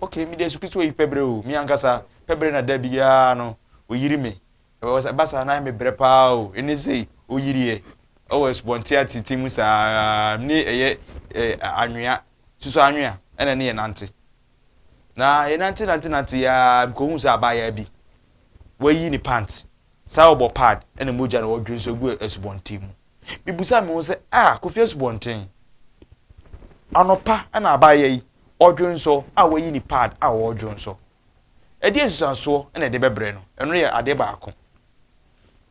Okay, mede Yesu Kristo ayi pɛbrɛ o, me ankasa, pɛbrɛ na da biara no, ɔyiri me. Ɛba saa na ayɛ me brɛ paa o, ɛne sei, ɔyiriɛ, ɛwɔ asubɔnten atete mu saa ara, ne ɛyɛ anwea, susu anwea, ɛna ne yɛnante. Na yɛnante nante nante yi ara, mekɔhuu sɛ abaayaa bi, wayi ne pant. Saa ɔbɔ pad ne mogya na ɔdwe nso gu asubɔnten mu. Mibisaa me ho sɛ, 'A, Kofi asubɔnten? Anɔpa na abaayewa yi ɔdwe nso a wayi ne pad a ɔredwo nso. Ɛdeɛn nsusuansoɔ na ɛde bɛbrɛ no? Ɛno yɛ adeɛ baako.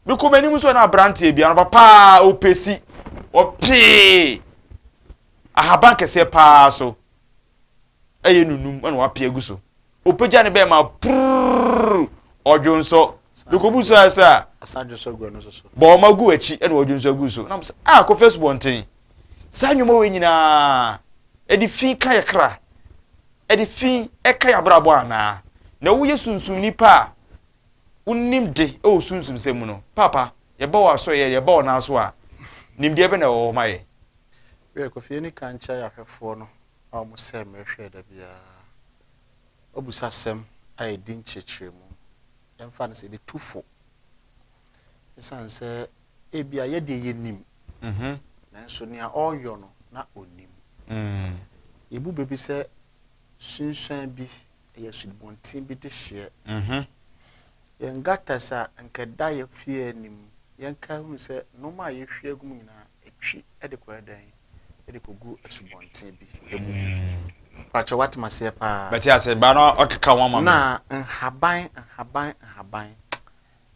Mekɔ m'anim nso na aberanteɛ bi, anɔpa paa ɔpɛ si, ɔpee ahaban kɛseɛ paa so. ɛyɛ nunum ɛna wapia agu so ɔpagya ne bɛɛma purr ɔdwo nsɔ dekobu so ayɛ sɛ a bɔ ɔma gu akyi ɛna ɔdwo nsɔ agu so nam sɛ a ah, kɔfɛ subɔnten saa nnwoma wei nyinaa ɛde fi ka yɛ kra ɛde fi ɛka yɛ abrabɔ anaa na woyɛ sunsum nipa a wonim de ɛwɔ sunsum sɛ mu no papa yɛba wɔ asɔyɛ yɛba wɔ n'aso a nimdeɛ bɛ na ɛwɔ hɔ ma yɛ Wiɛ, Kofi ani kan kyeae ahwɛfoɔ no a wɔn sɛɛ mmerɛ hwɛɛ da biara. W'abusasɛm a ɛdi nkyerɛkyerɛmu, yɛmfa no sɛ ebi tu fo, ɛsiane sɛ ebia yɛ deɛ yɛnim, nanso nea ɔreyɔ no na ɔnim. Yɛbu bɛ bi sɛ sunsuan bi Ɛyɛ asubɔnten bi dehyeɛ. Yɛn gutters a nka ɛda yɛn fie anim, yɛnka hunu sɛ nnoɔma a yɛhwie agu mu nyinaa, ɛtwi de kɔyɛ dɛn? Ɛde kɔgu asubɔnten bi mu. Mpakyɛ woate me aseɛ paa? Mate aseɛ, baa na ɔkeka ho ama me. Na nhaban, nhaban, nhaban.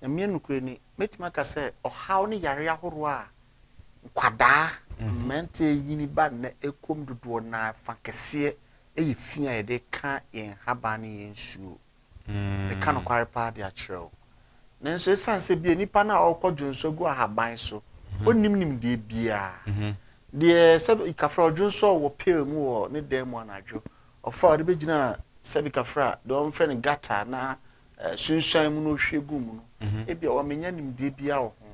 Nyame nokorɛ ni, mɛtumi aka sɛ ɔhaw ne yareɛ ahoroɔ a nkwadaa, mmeranteɛ nyini ba nnɛ ɛkɔm dodoɔ no ara fa kɛseɛ yɛ fi a yɛde ka yɛn nhaban ne yɛn nsuo. Meka nokware paa de akyerɛ wo. Nanso ɛsiane sɛ bia nipa no a ɔrekɔdwo nso agu ahaban so, ɔnnim nimdeɛ biara. Deɛ sɛbi kafra ɔdwo nso a ɔwɔ pail mu wɔ ne dan mu anadwo, ɔfa a ɔde bɛgyina sɛbi kafra, deɛ wɔfrɛ no gutter anaa sunsuan mu na ɔhwɛ gu mu no mhm. ebia wɔmenya nimdeɛ biara wɔ ho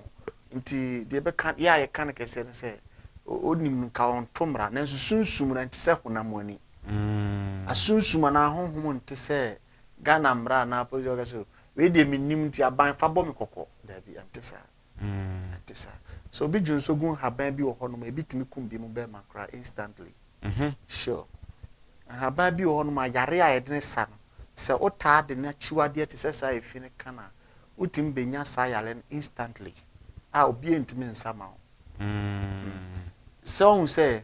nti deɛ bɛka yɛ a yɛka no kɛseɛ no sɛ ɔnim nka ɔnto mmara nanso sunsum no nte sɛ honam ani mm. asunsum anaa honhom nte sɛ ghana mmara anaa polisi ɔka sɛ wei deɛ menim nti aban fa bɔ me kɔkɔ daabi ɛnte saa Ɛte saa. Sɛ obi dwo nso gu nhaban bi wɔ hɔ nom a, ebi tumi kum binom bɛɛma koraa instantly. Sure. Nhaban bi wɔ hɔ nom a, yare a yɛde no sa no, sɛ wo taa de n'akyiwadeɛ te sɛ saa efi no ka no a, wo tumi bɛnya saa yare no instantly a obiara ntumi nsa ma wo. Sɛ wohu sɛ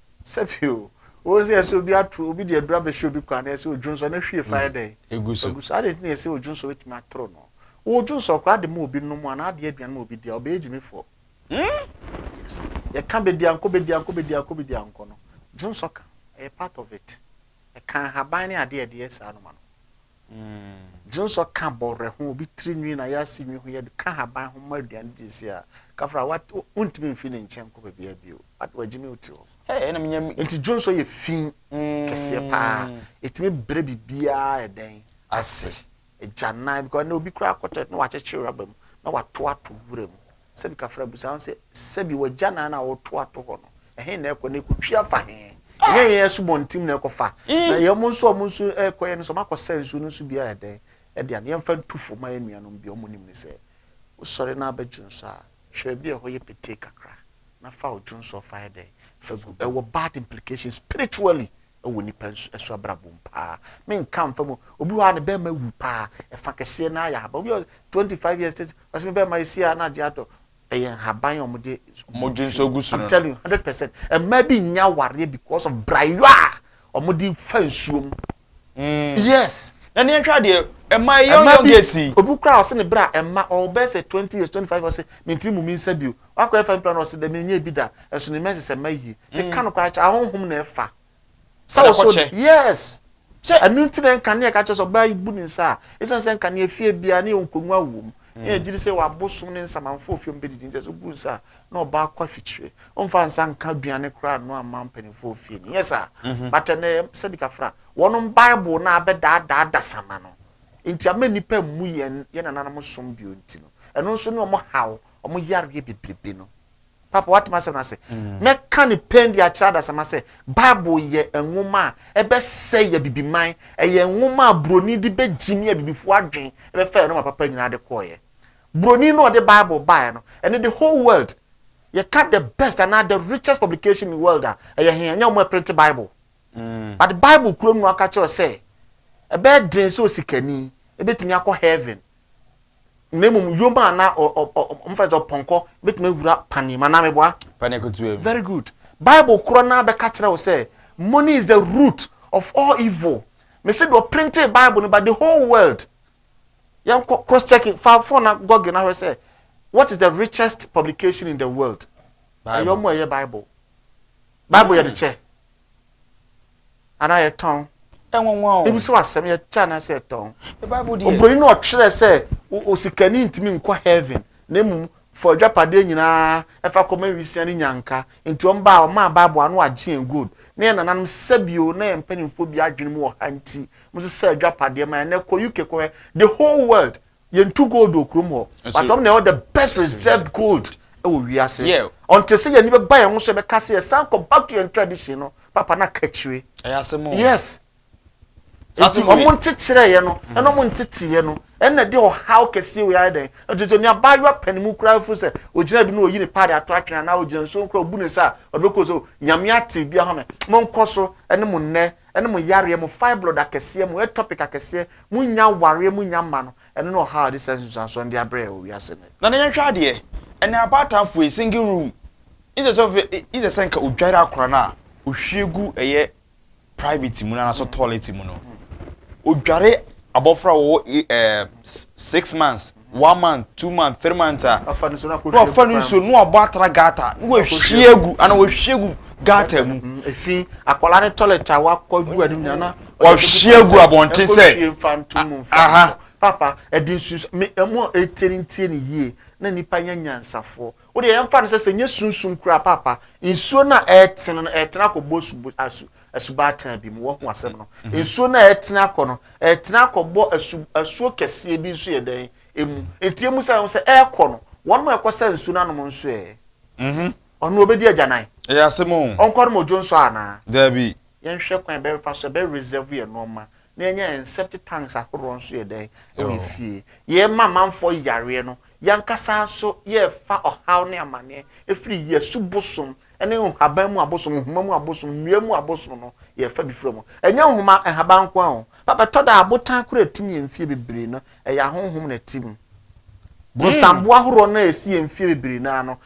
Sɛbi o, wose ɛsɛ sɛ obi ato obi de aduru abɛhyɛ obi kwan na ɛsɛ sɛ odwonsɔ no hwie fa yɛ dɛn? Egu so. Egu so. Adɛn nti na ɛsɛ sɛ odwonsɔ betumi atoro no? Wodwonsɔ koraa de ma obi nom anaa ade aduan ma obi di a, ɔbɛyɛ gyimifoɔ. Hmm? Yes. Yɛka bediankɔ bediankɔ bediankɔ bediankɔ no, dwonsɔ ka. Ɛyɛ part of it. Ɛka nhaban ne ade a ɛde yɛ saa no ma no. Dzi nsɔ kã bɔwerɛ ho, obi tsir nwi na yɛase nwi ho, yɛdze kã haban ho ma eduan dzi dze sie a, kafr a, wat, onntumi mmfi ne nkyɛn nnkɔ beebiara bio, wat, oedzi me otsi hɔ. Hey, nna minya me. Ntsi dzi nsɔ yɛ fi kɛseɛ paa, etumi brɛ biribiara a ɛdɛn? Ase, egyanan, because ndɛ obi koraa kɔtɔɛt na ɔakyekyer rubber mu na ɔatow ato nwura mu, Sɛbi ka fra busa ho sɛ, Sɛbi w'agyanan a wɔto ato hɔ no, ɛhe na ɛkɔ na ɛkɔtwi afa he? Ɛnyɛ yɛn asubɔntim na ɛkɔfa, mm. na yɛn nso a wɔn nso ɛkɔyɛ no sɛ wɔakɔsɛ nsuo no nso biara ɛdɛn ɛde ano yɛmfa ntu fo ma yɛn nuanom bi wɔn nim ne sɛ wosɔre na abɛdwo nso a hwɛ bi ɛhɔ yɛ petee kakra na fa odwo nso ɔfa ɛdɛn fa gu ɛwɔ bad implications spiritually wɔ nnipa nso so abrabɔ mu paa menka mfa mu obi hɔ a ne bɛrima wu paa ɛfa kɛseɛ no ayɛ ahaban obi ɔ 25 years thirty ɔsɛ me bɛrima ɛsi a na agye atɔ ɛyɛ nhaban a wɔde mogye nso gu so no i'm telling you hundred percent mmaa bi nya awareɛ because of brayo a wɔde fa nsuo mu mm. yes na ne yɛhwɛ adeɛ ɛma ɛyɛ ɔyɛ ɔgɛ si obi kura ɔsɛ ne bra ɛma ɔbɛsɛ twenty years twenty five ɔsɛ mentiri mu mi nsa bio Wakɔ ɛfa nipa na ɔsɛ dɛ menyɛ bi da ɛso ne mɛnsi sɛ mɛ yie me ka no kora kyɛ ahonhom na ɛfa sɛ ɔsɛ ɔde yes sɛ ɛnu nti na nka ne ɛka kyɛ sɛ ɔbaa yi bu ne nsa a esan sɛ nka ne efie bia ne yɛ nkonnwa wɔ mu ne yɛ gyiri sɛ wabo som ne nsamanfo ofie ɔmo bɛ didi nti ɛsɛ obu nsa a na ɔbaa kɔ afikyire ɔmo fa nsa nka aduane kora ano ama mpanimfo ofie ne yes a mhm. but ɛnɛ sɛ bi kafra wɔn bible na abɛ daadaa dasama no nti ama nipa mu yɛn yɛn nananom som bio nti no ɛno nso ne ɔmo haw wɔn yareɛ bebrebe no. Papa, woate m'asɛm no ase? Mɛka no pɛn de akyerɛ adasamma sɛ Bible yɛ nwoma a ɛbɛsɛe Abibiman. Ɛyɛ nwoma a Buroni de bɛgyimi Abibifoɔ adwene bɛfaa nneɛma papa nyinaa de kɔeɛ. Buroni no a ɔde Bible baeɛ no, ɛne the whole world. Yɛka the best anaa the richest publication in world a, ɛyɛ he? Ɛnyɛ wɔn a ɛprente Bible. Mm. But Bible kuro no aka kyerɛ sɛ ɛbɛyɛ den sɛ osikani ɛbɛtumi akɔ heaven. na mmom yom a na ɔmfa sɛ ɔpɔnkɔ bɛtumi awura panee mu anaa meboa panee ketewa mu very good bible korɔ no abɛka kyerɛ wo sɛ money is the root of all evil mese deɛ ɔprintee bible no ba the whole world yɛnkɔ cross checking fa phone na google no ahwɛ sɛ what is the richest publication in the world ɛyɛ ɔmo ɛyɛ bible Bible yɛde kyɛ anaa yɛtɔn. Ɛnwanwa o. Ebi sɛ wasɛm yɛkyɛ anaa sɛ yɛtɔn. Bible deɛ. Oburoni no ɔtwerɛ sɛ osikani ntumi nkɔ heaven na mmom fa adwapadeɛ nyinaa ɛfa kɔma nwisiaa ne nyanka. Nti wɔn baa wɔmaa Bible ano agye yɛn gold. Na yɛn nananom sɛbio na yɛn mpanimfoɔ bi adwene mu wɔ ha nti wɔsesa adwapadeɛ ma yɛn. Ɛnɛ kɔ UK kɔhwɛ the whole world Yɛntu gold wɔ kurom hɔ but ɔm na ɛwɔ the best preserved gold ɛwɔ wiase ɔnte sɛ yɛni bɛba yɛn ho so yɛbɛka sɛ yɛsan kɔ back to yɛn tradition no papa na ka akyire yes nti ɔmo nkyekyerɛ yɛ no ɛna ɔmo ntete yɛ no ɛna de ɔhaw kɛseɛ wei ayɛ dɛn ɛte sɛ ne abaayewa pɛ ne mu koraa fo sɛ ogyina bi na oyi ne paade ato atwene anaa ogyina nsuo koraa obu ne sa ɔde bɛkɔ so nyame ate bi ahome mo nkɔ so ɛne mo nnɛ ɛne mo yareɛ, mo fibroid akɛseɛ, mo ectopic akɛseɛ, mo nnya awareɛ, mo nnya mma no, ɛno ne ɔhaw a yɛde saa nsunsuansoɔ no de abrɛ yɛn wɔ wiase nnɛ. Nana yɛnhwɛ adeɛ, ɛnɛ abaatanfoɔ yi, single room, instead sɛ ɔfɛ, instead sɛ nka odware akora no a, ohwie gu ɛyɛ private mu no anaasɛ toilet mu no, odware abɔfra a ɔwɔ ɛɛ six months, one month, two month, three month a, na wafa no nsuo na wabɔ atra gata na wahwie agu ana wahwie agu gata mu. Mm, efi akwadaa ne toilet a wakɔ gu anim nyinaa na wahwie agu abɔnten sɛ aha papa ɛde nsuo mi ɛmu ɛtie ne ntie ne yie na nipa nyɛ nyansafoɔ. Wo deɛ yɛmfa no sɛ sɛ ɛnyɛ sunsum koraa paapa, nsuo no a ɛretene no ɛretene akɔbɔ subu asu asubaataa bi mu. Wahu asɛm no? Nsuo no a ɛretene akɔ no ɛretene akɔbɔ asu asuo kɛseɛ bi nso yɛ dɛn emu. Enti emu sɛ ɛho sɛ ɛrekɔ no, wɔn a ɛkɔsa nsuo no anom nso ɛ? Ɔno ɔbɛdi agyanan? Ɛyɛ asɛm o. Ɔnkɔnom odwo nso anaa? Daabi. Yɛnhwɛ kwan a ɛbɛfa so ɛbɛ reserve yɛn nnoɔma na yɛnya yɛn septic tanks ahoroɔ nso yɛ dɛn ɛwɔ yɛ fie yɛ ma amanfoɔ yareɛ no yankasa nso yɛ fa ɔhaw ne amaneɛ ɛfiri yɛ su bosom ɛne nhaban mu abosom nhoma mu abosom nnua mu abosom no yɛ fa bi firi mu ɛnyɛ nhoma nhaban nko a o papa tɔ da abotan kura tim yɛn fie bebree no Ɛyɛ ahonhom na ɛte mu. Bonsam ahoroɔ no a ɛsi yɛn mfeɛ bebree no ara no,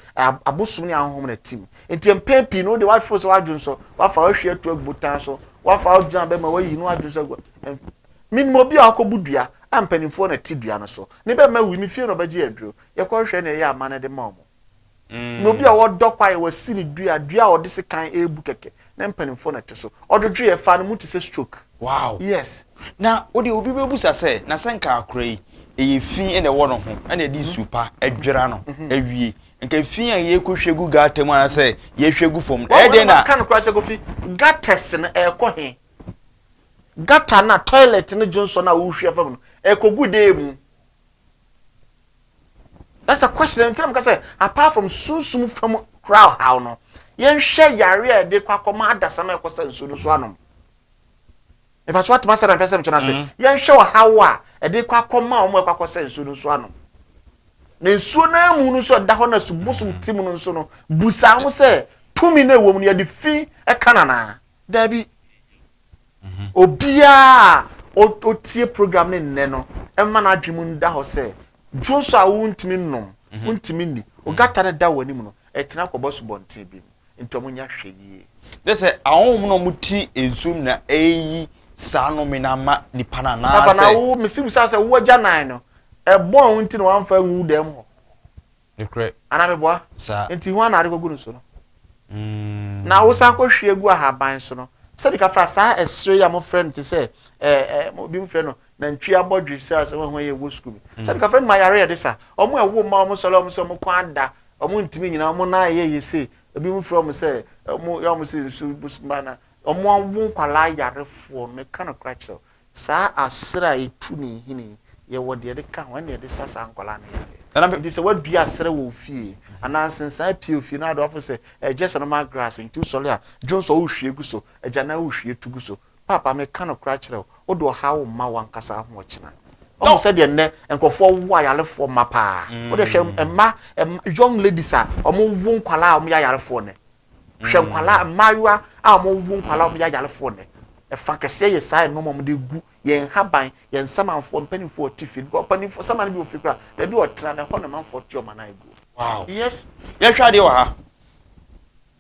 abosom ne ahonhom na ɛte mu. Nti mpɛn pii no, wo deɛ woafeel sɛ w'adwene sɔ, woafa w'ahwi ato agu botan so, woafa wo gyina bɛma woayi ne w'adwene sɔ agu a, menim obi a wakɔbu dua a mpanimfoɔ na ɛte dua no so, ne bɛma awui, me fie na wɔbɛgye aduro, yɛkɔhwehwɛ nea ɛyɛ a mma no de ma wɔn. na obi a ɔdɔ kwaeɛ wasi ne dua dua a ɔde sekan ɛrebu kɛkɛ na mpanimfoɔ na ɛte so ɔdwodwoeɛ faa ne mu te sɛ stroke. Wow. Yes. Na wode obi bɛbusa sɛ na sɛ nka akora yi ɛyɛ fi na ɛwɔ no ho ɛna ɛde nsu pa ɛdwera no awie nka fi a yɛkɔhwɛ gu gata mu anasɛ yɛhwɛ gu fam no ɛdeɛ na ka no koraa sɛ kofi gatas no ɛkɔ he gata na toilet no dwonsɔ no a wohwɛ fam no ɛkɔgu dee mu That's a question. Nti na mka sɛ apart from sunsum fam kura ɔhaw no, yɛnhwɛ yare a yɛde kɔ akɔma adasam a ɛkɔsa nsuo no so anom. Mepatso atem asɛ na mpɛ sɛ mekyerɛ ase. Mm-hmm. Yɛnhwɛ ɔhaw a ɛde kɔ akɔma wɔn a ɛkɔ akɔsa nsuo no so anom. Na nsuo no amu no nso ɛda hɔ na subosom ti mu no nso no busa ho sɛ tumi na ɛwɔ mu no yɛde fi ɛka nanaa. Daabi. Obiara a otie program no nnɛ no, mma n'adwene mu nda hɔ sɛ dwo nso a wontumi nnom, wontumi nni. Ogata no da wɔn anim no, ɛtena kɔbɔ asubɔnten bi mu. Enti wɔnyɛ ahwɛyie. Kyerɛ sɛ, ahonhom na wɔte nsuo mu na ɛreyi saa nnome no ama nnipa no anaasɛ? Papa, na wo, mesi bisa wo sɛ, wo agyanan no, ɛbɔn wo nti na wamfa angu wo dan mu hɔ? Nokorɛ. Anaa meboa? Saa. Enti hwan na ade kɔgu no so no? Na wosan kɔhwie gu ahaban so no, sɛdeɛ ka fra saa ɛserɛ yi a mofrɛ no te sɛ ɛɛ ɛɛ binom frɛ no nantwie abɔdwe sɛ asɛm a ɛho yɛ wɔ sukuu bi. Sɛdeɛ ka frɛ no ma yare yɛ de sa. Wɔn a ɛwo mma wɔn sɔre a wɔn sɛ wɔn kɔn ada, wɔn ntumi nyina, wɔn nan ayɛ yɛ sei, ebinom frɛ wɔn sɛ wɔn yɛ wɔn sɛ nsu bus mma na wɔn awo nkwadaa yarefoɔ no. Meka nokorɛ akyerɛ wo. Saa aserɛ a etu ne nhini yi, yɛwɔ deɛ yɛde ka ho, ɛna yɛde sa saa nkwadaa no yareɛ. Ɛnam enti sɛ woadua aserɛ wɔ wo fie, anaa nsensan apue wo fie na ade woafo sɛ ɛyɛ just normal grass nti wosɔre a, dwon sɛ wohwie gu so, agyanan wohwie tu gu so. Paapa, meka nokorɛ akyerɛ wo, wode ɔhaw rema w'ankasa wo ho ɔkyena. Woahu sɛdeɛ nnɛ nkorɔfoɔ wo ayarefoɔ mma paa? Wode hwɛ mma, young ladies a wɔwo nkwadaa a wɔyɛ ayarefoɔ nnɛ, Hwɛ nkwadaa, mmaayewa a wɔrewo nkwadaa a wɔyɛ ayarefoɔ nnɛ. Ɛfa kɛseɛ yɛ saa nneɛma a wɔde gu yɛn nhaban, yɛn nsamanfoɔ, mpanimfoɔ a wɔte fie no. Because mpanimfoɔ, saman no bi wɔ fie koraa, baabi a ɔtena no, ɛhɔ na amanfoɔ te wɔn anan aguo. Wow. Yes. Yɛhwɛ adeɛ wɔ ha.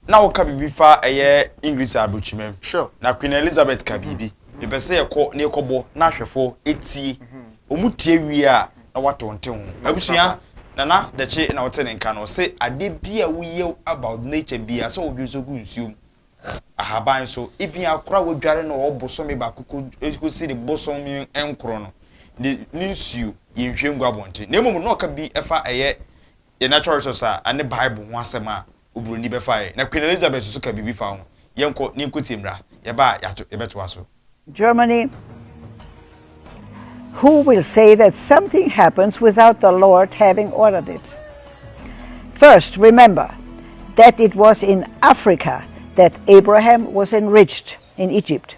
Na woka biribi fa ɛyɛ English aburokyimam. Sure. Na Queen Elizabeth ka biribi. Mepɛ sɛ yɛkɔ na yɛkɔbɔ na ahwɛfoɔ tie. Wɔn tie wie a, na woato nte ho. M'abusua, Nana Daci na ɔte ne nka no, ɔse adeɛ bi a woyɛ about nature biara sɛ wodwo nso gu nsuo mu, ahaban so, even akora a wadware no ɔwɔ bosome baako kɔsi ne bosome nkron no, ne nsuo yɛnhwie ngu abɔnten. Na mmom na ɔka bi fa ɛyɛ yɛ natural resource a ɛne Bible ho asɛm a oburoni bɛfae, na Queen Elizabeth nso ka biribi fa ho. Yɛnkɔ na yenkotie mmra. Yɛba a, yɛato, yɛbɛtoa so. Germany, Who will say that something happens without the Lord having ordered it? First, remember that it was in Africa that Abraham was enriched in Egypt.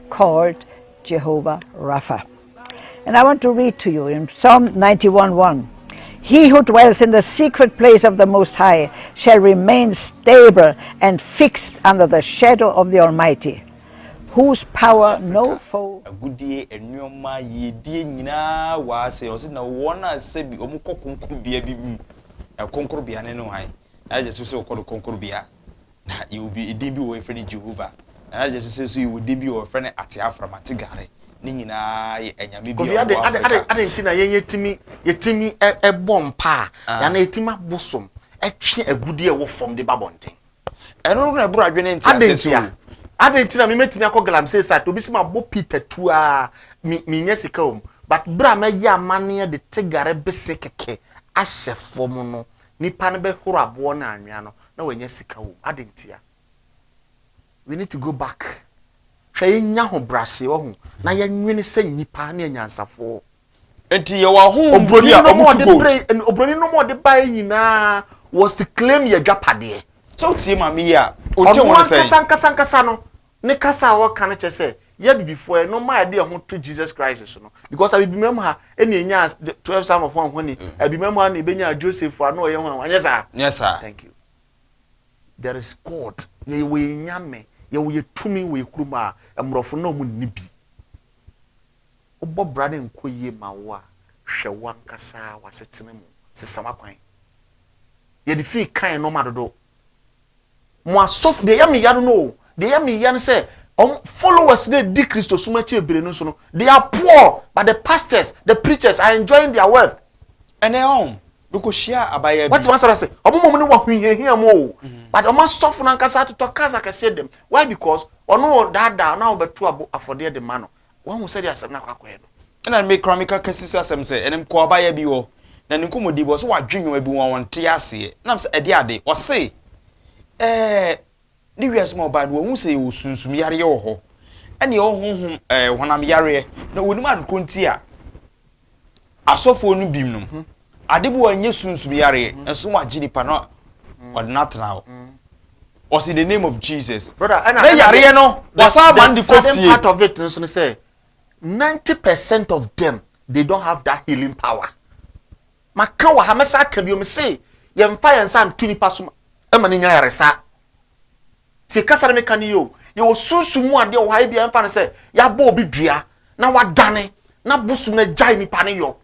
called Jehovah Rapha. And I want to read to you in Psalm 91 1. He who dwells in the secret place of the Most High shall remain stable and fixed under the shadow of the Almighty, whose power no foe. Agudie, nneɛma, yiedie nyinaa wɔ ase. Ɔsi na wɔn a sɛ bi wɔn kɔ konkorobea bi mu. Ɛkonkorobea ne ne hwan? Na yɛ sɛ sɛ wɔkɔ no konkorobea. Na yɛwɔ bi, edin bi wɔ hɔ yɛfrɛ no Jehovah. Na na kyerɛ sɛ sɛ so yɛwɔ din bi wɔ hɔ yɛfrɛ no Ateafram, Ategare. Ne nyinaa yɛ anyame bi a wɔwɔ Afrika. Adɛn nti na yɛn yɛtumi yɛtumi bɔ mpaa anaa yɛtumi abosom twe agudeɛ a ɛwɔ fam de ba abɔnten? Ɛno na ɛboro adwene nteaseɛ so o. Adɛn nti na me mɛtumi akɔ galamsey site obi sɛ mabɔ Peter tu aa me mennya sika wɔ mu but berɛ a mɛyɛ amanneɛ de tegare bese kɛkɛ ahyɛ fam no Nipa no bɛhoro aboɔ no anwea no na wanya sika wom adɛn ntia? We need to go back hwɛ yɛnya ho braseɛ wahu na yɛnwene sɛ nnipa ne anyansafoɔ nti yɛwɔ ahohom bi a ɔmo tu gold obroni nom ɔde baeɛ nyinaa was to claim yɛ dwapadeɛ sɛ wotie maame yi a ɔnte ho no sɛn ɔno ankasa ankasa ankasa no Ne kasa a ɔka no kyerɛ sɛ yɛ abibifo ɛ no ma ɛde ɛho to Jesus Christ so no because abibima mu ha ɛna ɛnya the twelve son of hwan hwani mm. abibima mu ha na ɛbɛnya Joseph ano ɔyɛ hwan anyɛ saa nyɛ saa thank you there is God yɛ wɔ yɛ nyame yɛ wɔ yɛ tumi wɔ yɛ kurom a mmorɔfo na ɔmo nni bi wobɔ bra ne nkɔ yie ma wo a hwɛ wankasa wasetena mu sesa wakwan yɛde fii kan nɔɔma dodo mo asɔfo deɛ ɛyɛ me ya no no o deɛ ɛyɛ me ya no sɛ wɔn followers na di kristosom akyi ebire no nso no they are poor but the pastors the preachers are enjoying their wealth. ɛnɛ ɔn mekɔ hyia abaayaa bi. wɔte wɔn asɔre ase wɔn mom no wɔ ahohiahia mu o mm-hmm. but wɔn asɔfo no ankasa atotɔ cars akɛseɛ dɛm why because ɔno ɔdaadaa ɔno a wɔbɛto abo afɔdeɛ de ma no Woahu sɛdeɛ asɛm no akɔ akɔyɛ no? Ɛna me koraa meka kasi so asɛm sɛ, Ɛnam kɔɔ abaayewa bi hɔ, na ne nkɔmmɔdie bi, ɔse wadwe nnoɔma bi ho a ɔnte aseɛ. Na me sɛ, Ɛdeɛ ade? Ɔse, Ɛɛ, ne wiase mu a ɔbaeɛ no, wahu sɛ yɛwɔ sunsum yareɛ wɔ hɔ, ɛna yɛwɔ honhom, ɛɛ, honam yareɛ, na ɔnim adekorɔ nti a, Asɔfoɔ no binom, ade bɔ a ɛnyɛ sunsum yareɛ nso wɔagye nipa na wɔde no atena hɔ. Wɔse in the name of Jesus. Brother, ɛna, na yareɛ no wɔsan ama no de kɔ fie. The sudden part of it nso ne sɛ, 90 percent of them, they don't have that healing power. Maka wɔ ha, mɛsa aka bio, mese yɛmfa yɛn nsa nto nipa so ma no nya yaresa. Tie kasa no meka no yie o. Yɛwɔ sunsum mu adeɛ wɔ ha ebia yɛmfa no sɛ yɛabɔ obi dua na wadane na bosom no agyae nipa no yɔ.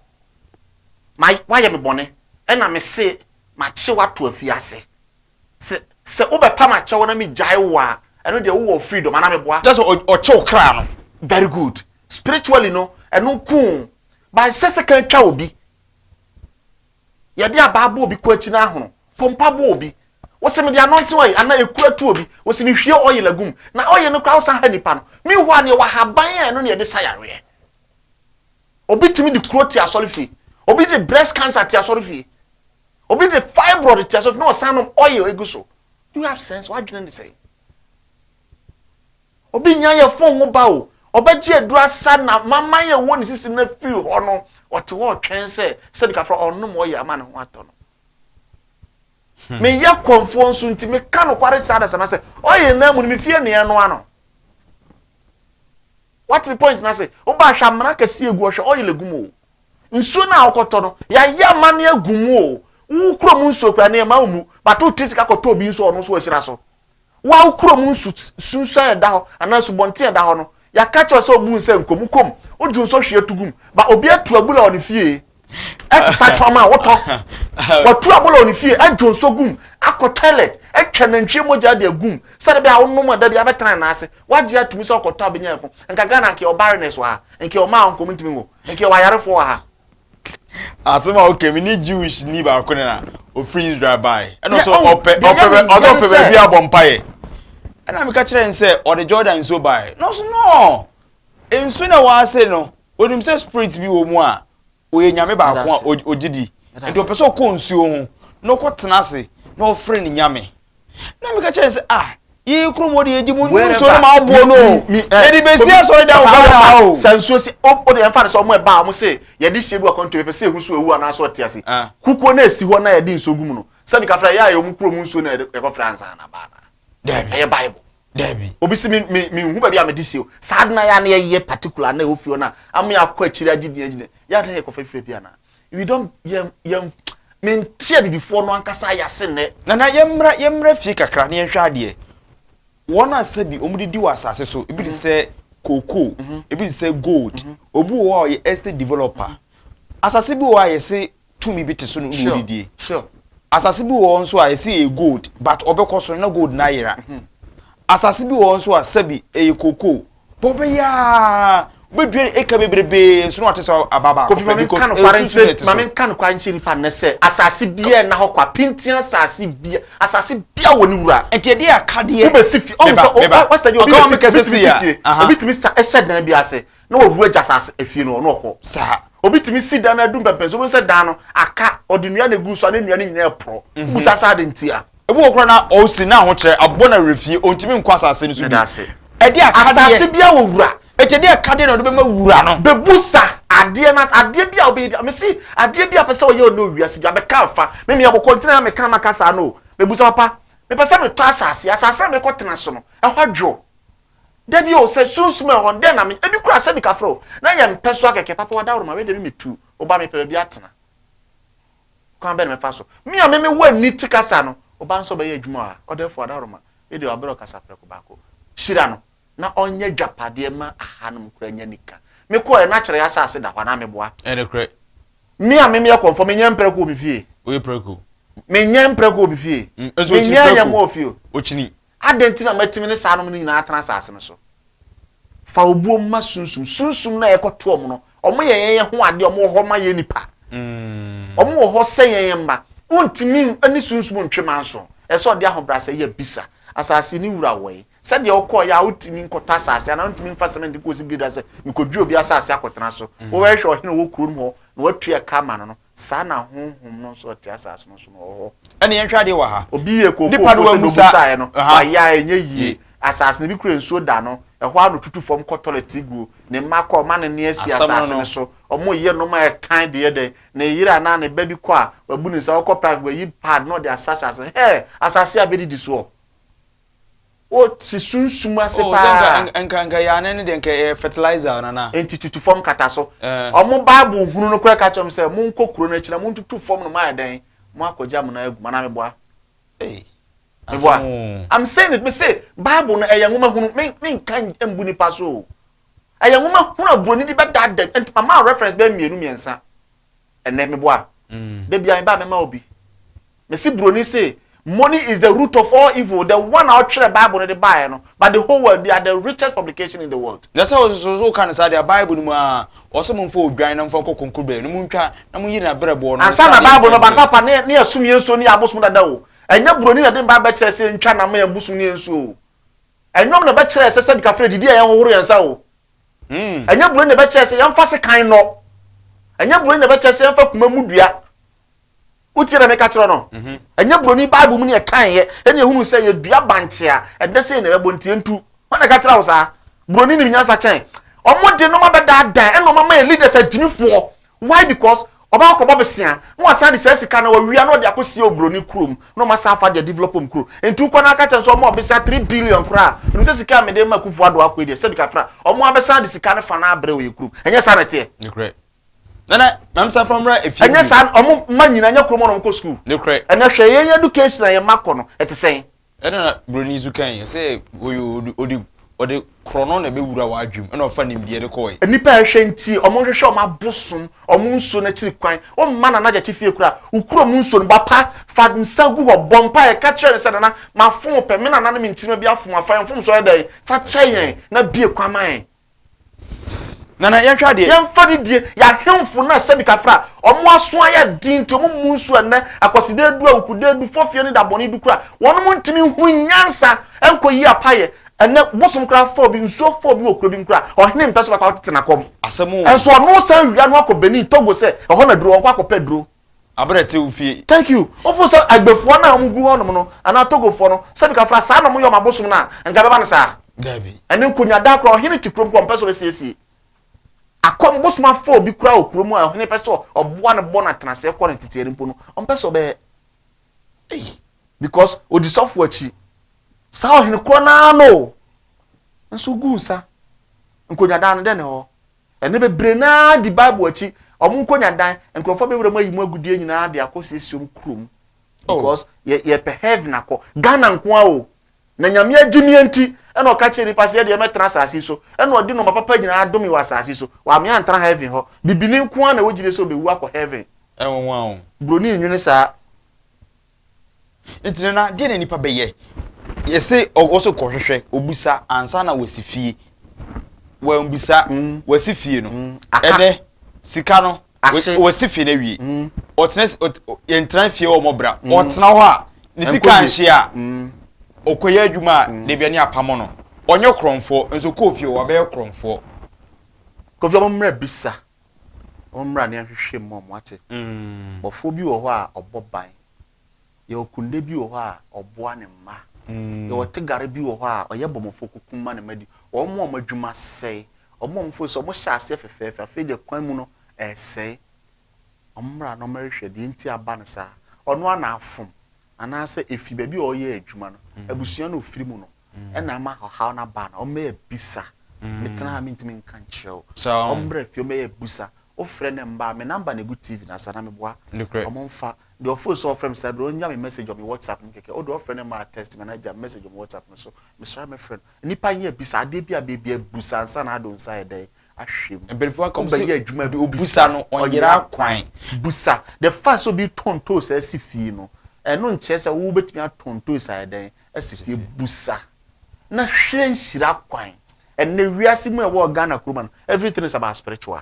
Ma wayɛ me bɔne ɛna me se makye wo ato afiase. Sɛ sɛ wobɛpam akyɛ wo na megyae wo a ɛno deɛ wowɔ freedom anaa meboa? Kyerɛ sɛ ɔkye wo kra no. Very good. Spiritually no ɛno nko o. But ɛnsɛ sɛ kan twa obi. Yɛde abaa bɔ obi kɔn akyi na ahono. Pompa bɔ obi. Wose mede anointing oil anaa ekuro atu obi. Wose mehwie oil agu mu. Na oil no koraa wosan ha nipa no. Meanwhile no yɛwɔ ahaban a ɛno na yɛde sa yareɛ. Obi tumi de kuro te asɔre fie. Obi de breast cancer te asɔre fie. Obi de fibroid te asɔre fie na ɔsan nom oil egu so. Do you have sense? W'adwene ne sɛn? Obi nnya yɛ fon ho ba o, ɔbɛgye aduru asa na maman yɛ wɔ ne sisi no afiri hɔ no, ɔte hɔ ɔtwɛn sɛ sɛbi kafra ɔnom ɔyɛ ama ne ho atɔ no. Hmm. Meyɛ kɔmfoɔ nso nti meka nokware kyerɛ adasama sɛ ɔyɛ nan mu no mefi anuɛ no ano. Wate me point no ase, woba ahwɛ amena kɛse agu ɔhwɛ ɔyɛ agu mu o. Nsuo no a wokɔtɔ no, yɛayɛ amane agu mu o. Wo kurom nsuo kura ne ɛma wo mu, bato tiri sika kɔtɔ obi nso ɔno nso ahyira so. Wo a wo kurom nsu sunsuan a ɛda hɔ anaa nsubɔnten a ɛda hɔ no, yɛaka akyerɛ wo sɛ obu nsa ngu mu kɔm, odwo nsu ɔhwe atu gu mu. Ba, obi atu abula wɔ ne fie, ɛsesa tɔn ma wo tɔ. Watu abula wɔ ne fie, adwo nsu agu mu, akɔ toilet, atwa nantwie mogya de agu mu, sɛdeɛ ɛbɛyɛ a wonom a da biara bɛtena ne nan ase. Wagye atom sɛ ɔkɔtɔ a ɔbɛnya yɛn fo. Anka Ghana anka yɛwɔ barrenness wɔ ha, anka yɛwɔ mmaa a wɔnkɔm ntumi nwo, anka yɛwɔ ayarefoɔ wɔ ha. Asɛm a woka mi ne Jewish ni baako na ofiri Israel bae. Ɛna ɔsɛ ɔpɛ ɔpɛ bɛ ɔsɛ ɔpɛ baabi abɔ mpaeɛ. Ɛna meka kyerɛ no sɛ ɔde Jordan nsuo bae. Na ɔso no nsuo na ɛwɔ ase no onim sɛ spirit bi wɔ mu a ɔyɛ nyame baako a ɔgye di. Nti ɔpɛ sɛ ɔkɔ nsuo ho na ɔkɔ tena ase na ɔfrɛ ne nyame. na meka kyerɛ sɛ ah yɛyɛ kurom hɔ de yɛgye mu nnu nsuo no ma aboɔ no o yɛde bɛsi asɔre dan wɔ ghana ha o sɛ nsuo se o de yɛmfa no sɛ ɔmo ɛba ɔmo se yɛde hyɛ bi wɔ kɔntɔ yɛpɛ sɛ ehu so ewu anaasɛ ɔte ase kukuo na esi hɔ na yɛde nsuo gu mu no sɛ meka frɛ yɛ a yɛ ɔmo kurom nsuo na yɛkɔ frɛ ansa na baa na daabi ɛyɛ bible daabi obi se me me me nhu baabi a mede hyɛ o saa de na yɛ a na yɛyɛ particular na ɛwɔ fie hɔ na ama yɛ akɔ akyire agye din agyina yɛ a na yɛkɔ fɛ fie bi anaa we don't yɛn yɛn mente abibifoɔ no ankasa ayɛ ase nnɛ. nana yɛmmra yɛmmra fie kakra na yɛnhwɛ adeɛ wɔn a sɛ bi wɔn de di wɔ asase so ebi te sɛ cocoa ebi te sɛ gold obi wɔ hɔ a ɔyɛ estate developer asase bi wɔ hɔ a yɛse tumi bi te so no na sure ɔdidie sure asase bi wɔ hɔ nso a yɛse ɛyɛ gold but ɔbɛkɔ so no na gold no ayera asase bi wɔ hɔ nso a sɛbi ɛyɛ cocoa Bɔ bɛ yi aa, wobɛdua no eka bebrebe nso na wɔate sɛ aba baako pɛ, because nsu sɛdeɛ ɛte so. Kofi, ma menka nokware nkyerɛ, ma menka nokware nkyerɛ nnipa nnɛ sɛ, asase biara nna hɔ kwa, pintinn asase bia, asase biara wɔ ne wura. Nti ɛdeɛ aka deɛ. Wobɛsi fie, ɔhu sɛ, meba, meba, wastadi, obi bɛsi, obi tumi si fie, obi tumi sa, hyɛ dan bi ase, na wawura agya asase, efie no hɔ, na ɔkɔ. Saa. Obi tumi si dan no adu mpɛmpɛnso, wobɛhu sɛ dan no aka, ɔde nnua na egu so a, na nnua no nyinaa ɛporɔ. Wobisa sɛ adɛn ntia? Ebi wɔ koraa na ɔsi n'ahokyerɛ abɔ no awerɛfie, ɔntumi nkɔ asase no so bio. Ɛdeɛ a ɛka deɛ. Asase biara wɔ wura. Enti ɛdeɛ a ɛka deɛ na ɔde bɛma wura no. Bɛbusa adeɛ no ase. Adeɛ biara a ɔbɛyɛ biara, mese adeɛ biara a ɔpɛ sɛ ɔyɛ ɔne wiase biara, bɛka mfa. Me meyɛ ɔkɔntene na meka na maka saa no o. Mɛbusa, Papa, mepɛ sɛ metɔ asase. Asase a mɛkɔtena so no, ɛhɔ adwo. Dabi o, sɛ sunsum a ɛwɔ hɔ no, dɛn na menyɛ? Ebi koraa, sɛbi kafra o, na yɛmpɛ so ara kɛkɛ. Papa, w'adaworo ma, wei deɛ me metu. Wo ba, mepɛ baabi atena. Kwan bɛn na mɛfa so? Me a me me wɔ ani te kasa no, wo ba nso bɛyɛ adwuma wɔ ha. Ɔdɛɛfoɔ Adaworoma, yɛ deɛ wabrɛ wo kasa prɛko baako. Hyira no na ɔnyɛ adwapadeɛ mma ahanom koraa nya nika. Me kɔɔɛ na kyerɛɛ asase da hɔ anaa meboa? Ɛyɛ nokorɛ. Me a me meyɛ kɔmfoɔ, me nyɛ mprɛko wɔ me fie? Woyɛ prɛko. Me nyɛ mprɛko wɔ me fie? Nso okyini prɛko. Me nyɛ ayɛmmoa wɔ fie o? Okyini. Adɛn nti na matumi ne saa nom no nyinaa atena asase no so? Fa obuo ma sunsum. Sunsum no a yɛkɔto wɔn no, wɔyɛ yɛn yɛ ho adeɛ, wɔwɔ hɔ ma yɛn nnipa. Wɔn wɔ hɔ sɛ yɛn yɛn mma. Wontumi ne sunsum ntwe manso. Ɛsɛ sɛ ɔde ahobrɛasɛ yɛ bisa. Asase no wura wɔe. Sɛdeɛ wokɔɔ yɛ a wotumi nkɔtɔ asase anaa wontumi mfa cement nkɔsi biribi da sɛ mekɔdwi obi asase akɔtena so. Wobɛhwehwɛ ɔhene a ɔwɔ kuro no mu hɔ na woatua ɛka ama no no. Saa na Honhom no nso a ɔte asase no so no wɔ hɔ. Ɛnna yɛnhwɛ adeɛ wɔ ha. Obi yɛ kookoo Nipa de fo sɛ wamusa. n'omusaeɛ no, Aha. wayɛ a ɛnyɛ yie. Yie. Asase no, ebi kura nsuo da no, ɛhɔ ara na ɔtutu fam kɔ tɔlɛt ti guo. Ne mma kɔ a, ɔma ne nne asi Asɛm no asase no. no so. Wɔyɛ nnoɔma a ɛtan de yɛ dɛn? Ne yere anaa ne ba bi kɔ a, wabu ne nsa, ɔkɔ practice, wayi pad na ɔde asra asase no. Hɛɛ! Asase a bɛdidi soɔ! O te sunsum ase Oh sɛ nka paa. nka nka nka yɛ anan no deɛ nka ɛyɛ fertilizer o nana. Enti tutu fam kata so. Eh. Wɔn Bible hunu no koraa ka kyerɛ wɔn sɛ, Monkɔ kuro no akyi na montutu fam no moayɛ dɛn? Moakɔgya mo nan agu mu anaa meboa? Ei Meboa? asɛm oo. I'm saying it, mese Bible no ɛyɛ nwoma hunu. Me menka n- mbu nipa so o. Ɛyɛ nwoma hunu a buroni de bɛdaadaa, enti mama wo reference bɛyɛ mmienu mmiɛnsa. Ɛnɛ me boa Da bia me ba mɛma obi Me se broni se money is the root of all evil the one a ɔtwerɛ bible no de baeɛ no but the whole world they are the richest publication in the world. Na sɛ ɔsoso so woka no saa deɛ a bible no mu aa ɔse momfa odwan na momfa nkɔ konkobrɛ na montwa na monyi na berɛboɔ no ansa na bible no ba no papa ne ne yɛsom yɛn nsuo ne yɛn abosom dada o ɛnyɛ broni na de bible bɛkyerɛ sɛ yɛntwa nam ma yɛn bosom ne yɛn nsuo o ɛnwom na ɛbɛkyerɛ sɛ sɛ dikafrɛ didi a yɛnhohoro yɛn nsa o ɛnyɛ buro na ɛbɛkyɛ sɛ yɛmfa sekan nɔ ɛnyɛ buro na ɛbɛkyɛ sɛ yɛmfa kuma mu dua wotie na meka kyerɛ no mhm. ɛnyɛ buroni bible mu ne ɛkaeɛ ɛne ɛhunu sɛ yɛdua bankye a ɛdɛ sɛ na ɛbɛbɔ ntie ntu hɔ na ɛka kyerɛ wo saa buroni nim nyansa kyɛn ɔmo de noma bɛdaadan ɛna ɔma ma yɛ leaders agyimifoɔ Why because ɔbɛkɔ akɔbɔ bosea na wasan de saa sika no a wawia na ɔde akɔsie oburoni kurom na wɔn asan afa ade adevelop wɔn kuro nti wokɔ na aka kyerɛ no sɛ wɔn a wɔbesea three billion koraa wonim sɛ sika a mede rema Akuffo Addo akɔ yi deɛ sɛbi kakra wɔn ara bɛsan de sika no fa no ara abrɛ wɔ yɛn kurom ɛnyɛ saa na ɛteɛ? Nokorɛ. Nana, maame san fa mmra efie bio. Ɛnyɛ saa wɔn mma nyinaa ɛnyɛ kurom hɔ na wɔkɔ sukuu. Nokorɛ. Ɛnna hwɛ yɛn education a yɛn mma kɔ no ɛte sɛn? Ɛna na buroni nso kae, ɔse oye ɔde ɔde ɔde korɔno na ɛbɛwura w'adwene mu, ɛna ɔfa nimdeɛ de kɔɔe. Nnipa a ɛhwɛ nti wɔn hwehwɛ wɔn abosom, wɔn nsuo no akyiri kwan, wɔn mma Nana Gyakye fie kura, wo kura wɔn nsuo no, bɔ apa, fa nsa gu hɔ, bɔ mpaeɛ, ka kyerɛ no sɛ Nana, mafom wo pɛ, me Nana ne me nkyirimma bi afom wo, fa yɛn mfomsoɔ yɛ dɛn, fa kyɛ yɛn, na bue kwan ma yɛn. Nana yɛnhwɛ adeɛ. Yɛnfa ne die yɛ ahemfo na sɛbi kafra a ɔmo aso ayɛ den nti ɔmo mmu nso ɛnɛ akwaside adu awukude adu fɔfie ne dabɔne du kora wɔnom ntumi nhunu nyansa nkɔ yi apayɛ ɛnɛ bosom kora fɔ bi nsuo fɔ bi wɔ kuro bi mu kora ɔhene mpɛ so bakɔ tena kɔm ɛnso ɔno san wia no akɔ Benin Togo sɛ ɛhɔ na duro ɔnkɔ akɔ pɛ duro Abrɛ tse wo fie. Thank you. Wofoo sɛ Agbefoɔ no a wɔn gu hɔ nom no anaa Togofoɔ no, sɛbi kafra saa na wɔn yɛ wɔn abosom no a, nka ɛbɛba no saa? Dabi. Ɛne nkonyaadaa koraa, ɔhene te kurom koraa ɔmpɛ sɛ ɔbɛsiesie. Akɔm bosom afa obi koraa wɔ kurom a ɔhene pɛ sɛ ɔboa no bɔ no atenaseɛ kɔ no teteɛ no mpo no, ɔmpɛ sɛ ɔbɛyɛ. Ei, because ɔdi sɔfoɔ akyi. Saa ɔhene korɔ no ara no o. Nso ɔguu nsa. Nkonyaadaa no, dɛn ne hɔ? Ɛnnɛ bebree no ara di Bible akyi, wɔn nkonya dan, nkurɔfoɔ bɛwura mu ayi mu agudeɛ nyinaa de akɔ siesie wɔn kuro mu oh. because yɛ yɛpɛ heaven akɔ Ghana nko ara o na nyame agye mi enti ɛna ɔka kyerɛ nipa sɛ yɛdeɛ mɛtena asase so ɛna ɔde nɔma papa nyinaa adome wɔ asase so wɔame antena heaven hɔ bibini nko ara na ɛwɔ gyidie sɛ ɔbɛwu akɔ heaven ɛnwanwa o buroni nwene saa Enti Nana, deɛ na nipa bɛyɛ? Yɛse ɔkɔ so kɔhwehwɛ, ɔbisa ansa na wasi fie. Wambisa, wasi fie no. Ɛnɛ, sika no, wasi fie no awie. Ɔtena, yɛntena fie hɔ mmɔ bra. Ɔtena hɔ a, ne sika nhye a, ɔkɔyɛ adwuma a, dabi ani apamo no. Ɔnyɛ korɔmfoɔ, nso kɔɔ fie hɔ, wabɛyɛ korɔmfoɔ. Kofi, wɔmmra bisa. ɔmmra ne ahwehwɛ mu ɔmo ate bɔfoɔ bi wɔ hɔ a ɔbɔ ban yɛwɔ kunde bi wɔ hɔ a ɔboa ne mma yɛwɔ tegare bi wɔ hɔ a ɔyɛ bɔmɔfoɔ kuku ma ne mma di wɔn mo ɔmo adwuma sɛe wɔn mo ɔmo fo sɛ ɔmo hyɛ aseɛ fɛfɛɛfɛ afei deɛ kwan mu no ɛɛsɛe ɔmo mmra na ɔmo ɛhwehwɛ deɛ nti aba no saa ɔno ara na afom anaasɛ efi baabi a ɔyɛ adwuma no abusua na ofiri mu no. na ama ɔhaw no aba anaa? Ɔmmɛyɛ bisa. Metena ha a mentumi nka nkyerɛ wo. Ɔmmra fie ɔmmɛyɛ bisa. Wofrɛ no mma a, me number na ɛgu TV no ase anaa meboa? Wɔmfa. Deɛ ɔfoo so a ɔfrɛ me saa berɛ yi, ɔnnya me message wɔ me WhatsApp no mu kɛkɛ. Wodeɛ ɔfrɛ no mma a, text me anaa gya me message wɔ me WhatsApp no so. Mesɔre a mɛfrɛ no. Nnipa nyɛ bisa. Adeɛ bi a bɛyɛ biara bisa ansa na ade wo nsa ayɛ dɛn? Ahwɛ mu. Mpanimfoɔ aka sɛ, Wobɛyɛ adwuma a bisa. Deɛ ɔbisa no, ɔnyera kwan. Bisa. The fact sɛ obi retɔn toes asi fie no, ɛno nkyerɛ sɛ wobɛtumi atɔn toes ayɛ dɛn? si fie busa na hwɛ nhyira kwan ɛnɛ wiase mu ɛwɔ Ghana kuroma no everything is about spiritual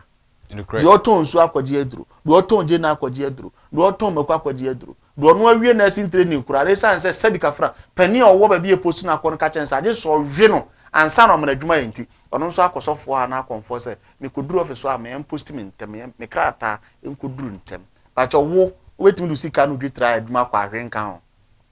deɛ ɔtɔn nsuo akɔgye aduro deɛ ɔtɔn gye na akɔgye aduro deɛ ɔtɔn mako akɔgye aduro deɛ ɔno awie na ɛsi ntere ne kura resan sɛ sɛbi kafra panin a ɔwɔ baabi yɛ post na akɔ no kakyɛn sɛ agye sɛ ɔwe no ansa na ɔmana adwuma yɛ nti ɔno nso akɔsɔfoɔ a na akɔnfoɔ sɛ mekɔduru office a meyɛ mposti me ntɛm meyɛ me krataa nkɔduru ntɛm bakyɛ wo wobɛtumi de sika no dwetira adwuma kɔ ahwe nka ho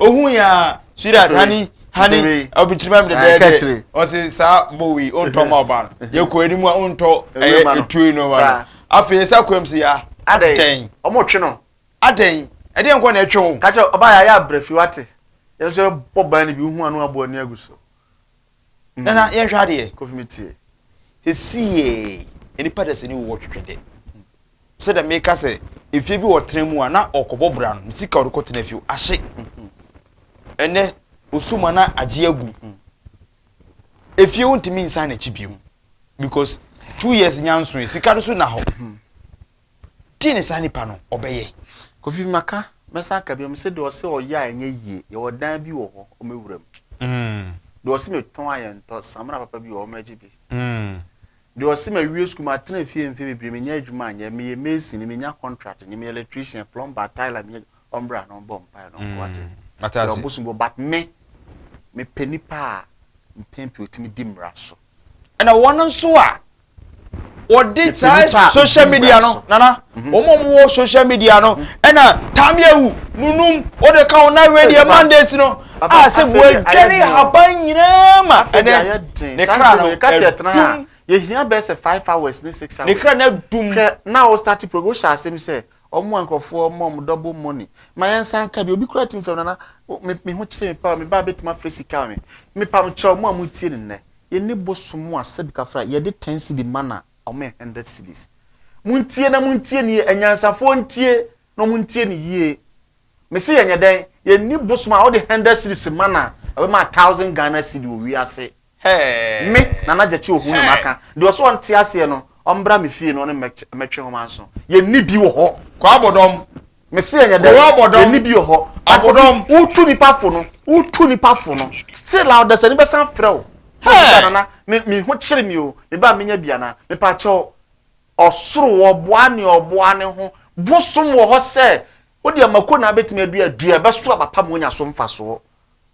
ohun ya sweetheart honey honey ɔbɛkyerɛ mi dɛdɛɛdɛ ɔsi saa bowi ontɔ ma ɔba no yɛ kɔ anim a ontɔ ɛyɛ etuo no ma no afei ɛsa kɔ mu si ya adɛn ɔmo twe no adɛn ɛdeɛ nkɔ na ɛtwe wo. kakyɛ ɔbaa yɛ ayɛ abira fi wate yɛn nso ɛbɔ ban no bi ohun ano abɔ ani agu so Na na yɛhwɛ adeɛ kofi mi tie sisi yɛ nipa dɛ sɛ ni wɔ twitwi dɛ sɛ dɛ meka sɛ efie bi ɔtena mu a na ɔkɔbɔ bra no sika ɔde kɔ tena fie ahye ɛnɛ osu ma na agye agu efie wo ntumi nsan n'akyi bio because two years nyansoe sika no so na hɔ. Deɛ ne saa nipa no ɔbɛyɛ? Kofi maka mɛsan aka biom sɛ deɛ ɔsɛ ɔyɛ a ɛnyɛ yie yɛwɔ dan bi wɔ hɔ ɔmɛ wura mu deɛ ɔsɛ mɛ tɔn a yɛ ntɔ samina papa bi wɔ hɔ ɔmɛ gye bi deɛ ɔsɛ mɛ wie sukuu ma tena fie mfe bebree mɛ nya adwuma nyɛ mɛ yɛ mason mɛ nya contract nyɛ mɛ yɛ electrician plumber tiler mɛ nya ɔmbra na ɔmbɔ mpae na ɔnkɔ ate yɛ ɔbosom bɔ but mɛ mɛ pɛ nipa a mpɛn pii otimi di mmara so ɛna wɔn nso a wɔde saa social media no nana mhm. wɔn a wɔwɔ social media no ɛna mhm. taamiawu nunum wɔde ka wɔn awie deɛ mondays no a sɛ wɔadwane haban nyinaa ma ɛnɛ ne kra no ɛdum yɛhia bɛɛ sɛ five hours ne six hours ne kra no ɛdum hwɛ na wɔ start program wohyɛ asɛm sɛ ɔmo a nkurɔfoɔ ɔmo ɔmo double money ma yɛn nsa nka bi obi kura tim fam nana me ho kyerɛ me pa me ba betuma firi sika me me pam kyerɛ ɔmo a mo tie ne nnɛ Yɛne bosom mu asɛm kafra yɛde ten cedi ma na wɔn yɛ hundred cedis montie na montie nie anyansafoɔ ntie na wɔn ntie no yie mese yɛnyɛ dɛn yɛnni bosom a wɔde hundred cedis ma na ɛbɛma a thousand Ghana cedi wɔ wiase me nana gyakye ohu na maka deɛ ɔsɛ wɔn te aseɛ no wɔn bra me fie na wɔn mɛtwe wɔn anso yɛnni bi wɔ hɔ kɔ abɔdɔm Mese ɛnyɛ dɛn. Kowɔ bɔdɔm. Ɛni bi wɔ hɔ. Abodɔm. Akofi wotu nipa fo no wotu nipa fo no still a ɔdasani bɛsan frɛ wo na ɔbisa Hey! nana me me ho kyere me o me ba menya bi anaa mepakyɛw ɔsoro wɔboa nea ɔboa ne ho bosom wɔ hɔ sɛ wodeɛ mako na abɛtumi adua dua ɛbɛso aba pa ma wonya so mfasoɔ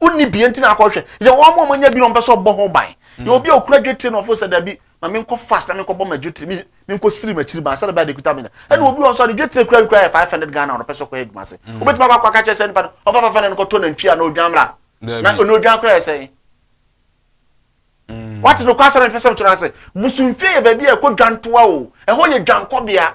wonni bie nti na akɔhwɛ yɛ wɔn a wɔanya bi na wɔpɛ sɛ ɔbɔ ho ban yɛ obi a okura dwetire na ɔfo sɛ dabi ma menkɔ fast na menkɔ bɔ ma dwetire mi menkɔ siri m'akyiri ban sɛ bɛyɛ de kuta mi na ɛna obi wɔn sɛ ɔde dwetire kura kura yɛ five hundred ghana ɔpɛ sɛ ɔkɔ yɛ adwuma se obetuma kɔ akɔ akakyɛ sɛ nipa no ɔfa fafa na ɛnkɔtɔ na ntwi a na odwan mra na ɔna odwan kura yɛ sɛn wate no kɔ asɛm ɛpɛ sɛ ɔtena ase busumfie yɛ baabi a ɛkɔ dwantoa o ɛhɔ yɛ dwankɔbea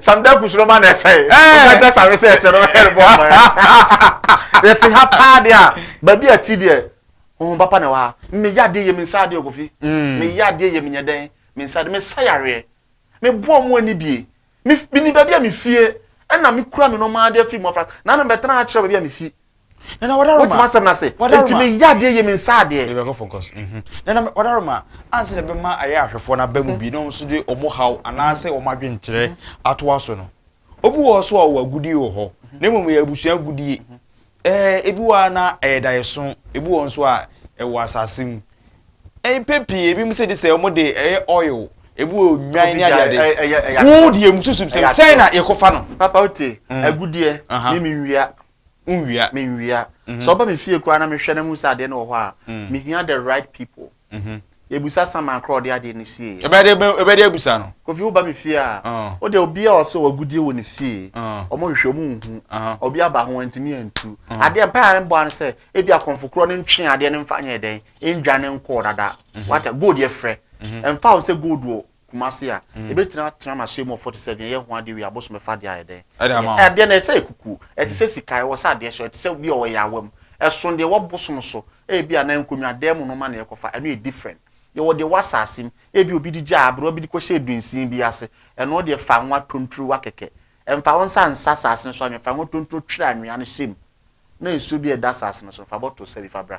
samda kusoro ma na ɛsɛe wobɛkyɛ sare sɛ ɛsɛ no ɛrebɔ aman yɛte ha paa deɛ a baabi a ti deɛ honhom papa na ɛwɔ ha meyɛ adeɛ yɛ me nsa adeɛ ɔkɔfi mm. meyɛ adeɛ yɛ menyɛ dɛn me nsa adeɛ mesa yareɛ meboɔ mu ani bie meni baabi a mefie ɛna mekura me nɔma adeɛ afiri mu afra na na bɛtena akyerɛ baabi a mefie Nana wadaroma. Wote m'asɛm no ase? Wadaroma. Enti meyɛ adeɛ yie, mensɛ adeɛ. Yɛbɛkɔ focus. Mhm. Nana me- wadaroma, ansa na ɛbɛma ayɛ ahwɛfoɔ no aba mu bi na wɔn nso de wɔn haw anaasɛ wɔn adwenkyerɛ ato aso no, obi wɔ hɔ so a ɔwɔ agudie wɔ hɔ, na mmom ɛyɛ abusua agudie. Ɛɛ, ebi wɔ hɔ a na ɛyɛ daeɛso, ebi wɔ hɔ nso a ɛwɔ asase mu. Ɛɛ, mpɛn pii ebinom sɛ de sɛ wɔn de ɛyɛ oil, ebi wɔ nnwan Obi ne gya, adeade. ɛyɛ- ɛyɛ- ɛyɛ Wo atorɔ. deɛ mususu sɛ Ɛyɛ sɛn atorɔ. na yɛkɔfa no? Papa wotie, Mm. agudeɛ, Aha. me menwia. Wonwia, menwia. Sɛ ɔba me fie koraa na mehwɛ na mehu sɛ adeɛ no wɔ hɔ a, mehia the right people. Yɛbusa Saman koraa ɔde adeɛ no sieeɛ. Ɛbɛde bɛ- ɛbɛde abusa no. Kofi woba me fie a, Ah. wo deɛ obi a ɔsɛ ɔagudie wɔ ne fie, Ah. ɔmo hwehwɛ ɔmo nhu, Aha. obi aba ho ntumi antu. Adeɛ mpae a mbɔ ano sɛ, ebi akɔnfo korɔ no ntwe adeɛ no mfa nyɛ dɛn, ndwane nkɔɔ dada. Wata, gold yɛfrɛ. Ɛmfa ho sɛ gold wɔ Kumasi a, yɛbɛtumi atena n'ahyɛn mu wɔ forty seven, ɛyɛ ho adeɛ wei abosom ɛfa adeɛ ayɛ dɛn? Ɛde ama wo. Adeɛ no ɛsɛ yɛ kuku, ɛte sɛ sika, ɛwɔ sɛ adeɛ hyɛ, ɛte sɛ bi a ɔyɛ awa mu, ɛsono deɛ ɛwɔ bosom so, ebi a anaa nkonnwa dan mu nnoɔma na yɛkɔfa, ɛno yɛ different. Yɛwɔ deɛ ɛwɔ asase mu, ebi a obi de gya aberewa bi de kɔhyɛɛ dunsin bi ase, ɛno deɛ fa ngo atonturo wa kɛkɛ, mfa wo nsa nsa asase no so anwea, fa ngo atonturo twere anwea no hyɛ mu, na nsuo bi a ɛda asase no so no, fa bottle sɛ bi fa bra.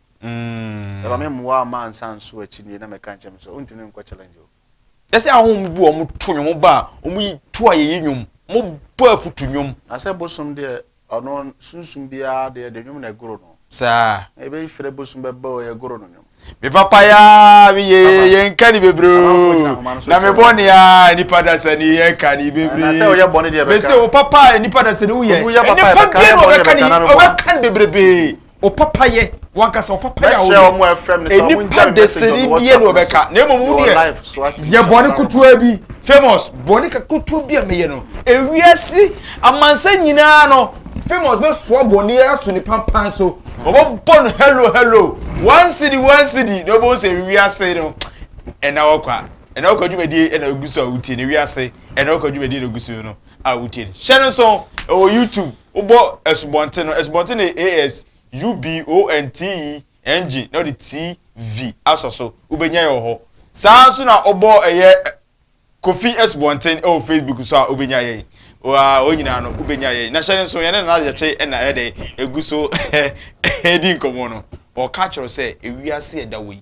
Ɛba me mmoa ama ansa nso akyi nie na mɛka nkyɛn sɛ wontumi ne nkɔ challenge o. Ɛsɛ ahom bi wɔn to nnwom ba a wɔn yi to a yɛyi nnwom mo bɔ afutu nnwom. Na sɛ bosom deɛ ɔno sunsum biara deɛ de nnwom na ɛgoro no. Saa. Na yɛbɛyi frɛ bosom bɛbɔ o yɛgoro no nnwom. Me papa ya me ye yɛ nka ne bebree o na me bɔ ne a nipa dasa ni yɛ ka ne bebree. Me se o papa nipa dasa ni wo yɛ nipa bie na ɔbɛka ne ɔbɛka ne bebrebe. ɔpapayɛ wankasa ɔpapayɛ a wɔyɛ nipa desiri bie na ɔbɛka na emu mu deɛ yɛ bɔne kutuwa bi famous bɔne kutuwa bi a meyɛ no ewiase amansa nyinaa no famous bɛ soa bɔne aso ne pampan so ɔbɛbɔ no hello hello one city one city na ɔbɛn sɛ ewiase no ɛna ɔkwa ɛna ɔkwa dwumadie ɛna egu so a wotie na ewiase ɛna ɔkwa dwumadie na egu so no. a wotie no. Hyɛ no nsow, ɛwɔ YouTube. Wobɔ Asubɔnten no, Asubɔnten no yɛ A-S-U-B-O-N-T-E-N-G na wode TV asɔ so. Wobɛnya yɛ wɔ hɔ. Saa ara nso na wobɔ ɛyɛ Kofi Asubɔnten wɔ Facebook so a, wobɛnya yɛn. Wa, wɔn nyinaa no, wobɛnya yɛn. Na hyɛ no nsow, yɛne Nana Gyakye na ɛyɛ dɛn, ɛgu so redi nkɔmmɔ no. Ɔreka akyerɛ wo sɛ, ewiase a ɛda hɔ yi,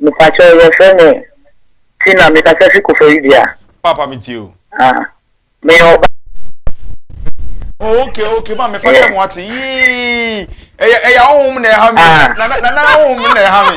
Mepakyɛw yɛfrɛ me Tina mekasa fi Koforidua Ghana. Paapa me tie o. Ah meyɛ ɔbaa. Oh ok ok ma me fa kyɛ mo ate yii ɛyɛ ɛyɛ ahohom na ɛha me na na na ahohom na ɛha me.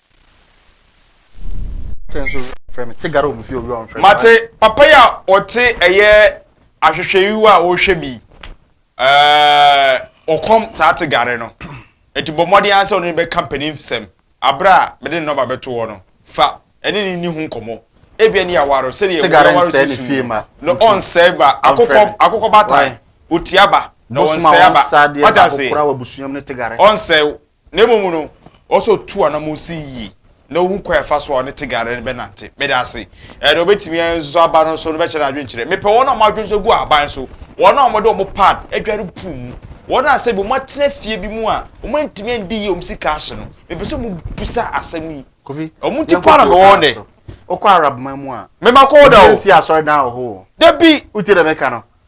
Mate papa yi a ɔte ɛyɛ ahwehwɛyiwa a ɔrehwɛ bi ɔkɔm saa te gare no nti bɔ mmɔden ara sɛ ɔne no bɛka mpaninfsɛm abere a mede ne nɔma bɛto hɔ no fa ɛne no nni ho nkɔmmɔ ebia ne yɛaware no sɛdeɛ wɔyɛware no susu no na ɔnsɛe ba akokɔ akokɔ baatan otia ba na ɔnsɛe aba wate ase ɔnsɛe na mmom no, ɔwɔ sɛ ɔtu anammɔn si yie na ɔhu kwan a ɛfa so a ɔne Tigare no bɛnante. Meda ase. Ɛɛ, deɛ ɔbɛtumi nso aba no nso no bɛkyɛ n'adwenkyerɛ. Mepɛ wɔn a wɔn adwene nso gu ahaban so, wɔn a wɔde wɔn pad adware pool mu, wɔn a sɛbi wɔatena fie bi mu a wɔantumi andi yie wɔn sika ahye no. Mepɛ sɛ wɔbisa asɛm yi. Kofi, Wɔn nti paa na yɛnkɔto mewɔ wɔn ɔkwan dɛ. so. Wokɔ Arab man mu a, Mema kɔ hɔ da o. wobɛnsi asɔredan wɔ hɔ o. Dabi. Wotie deɛ meka no?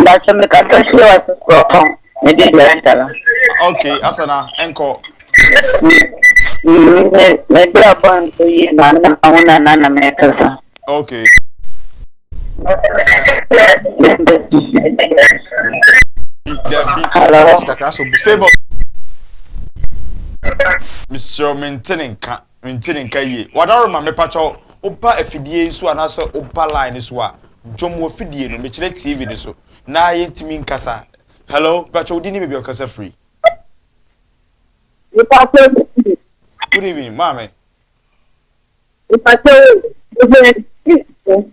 Mbàtò mi kasa si wa si kuro kɔ mi di di asa la. Ok asa na nkɔ. Mi di abɔ nso yi na mi na ahu na na na mi kasa. Ok. Hello. Kakra so bu sebo. Misiri mi ntini nka. Mente ne nka yie. Wadaroma mepakyɛ wo ba afidie yi so anaasɛ wo ba line no so a dwom wɔ fidie no mekyerɛ TV no so na yɛntumi nkasa hello mepakyɛ wo din ne baabi a wo kasa firi. Mepakyɛ wo din. Good evening maame. Mepakyɛ wo din.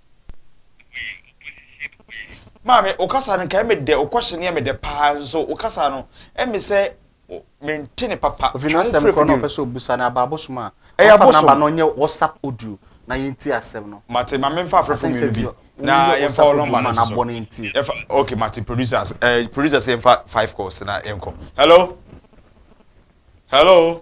Maame, wo kasa no nka ɛmɛ dɛ, wo kɔhye no yɛ me dɛ paa nso wo kasa no ɛmɛ sɛ mente ne papa. Ofi n'asɛm korɔ na ɔpɛ sɛ ɔbusa no aba abosom a. Ɛyɛ abosom. Ɔfa namba no ɔnyɛ WhatsApp audio na yɛnti asɛm no. Mate ma memfa afrɛfo mmienu bi na yɛmfa wo nɔmba no so. Yɛfa okay mate producers ɛɛ eh, producers yɛmfa five calls na yɛnkɔ. Hello hello.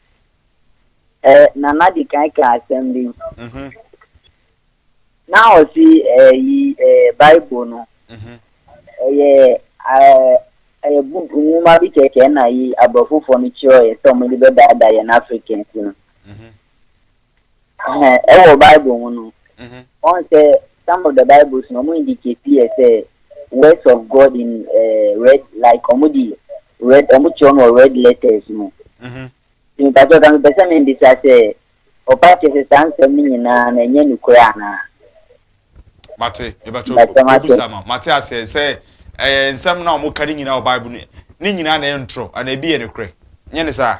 Ɛ Nana de kan ka asɛm bi. Na ɔsi ɛyi ɛ Bible no. Ɛyɛ ɛ ɛyɛ book nwoma bi kɛkɛ na yi aborɔfofoɔ no kyerɛɛ sɛ wɔn de bɛdaadaa yɛn Africans no. Ɛhɛn, ɛwɔ Bible mu no, wɔn sɛ some of the Bibles no, wɔn indicate yɛ sɛ words of God in uh, red, like wɔn di red, wɔn kyerɛ no wɔ red letters mu. Ti mi pàtó kan pɛ sɛ mi mbisa sɛ, ɔpa kyɛ sɛ saa nsɛm no nyinaa na ɛnyɛ nukurɛ anaa? Mate, mebɛtɔ Mate, mate. obusa no, mate aseɛ sɛ ɛyɛ nsɛm no a wɔka ne nyinaa wɔ Bible no, ne nyinaa na ɛyɛ ntorɔ anaa ebi yɛ nokorɛ, nyɛ ne saa?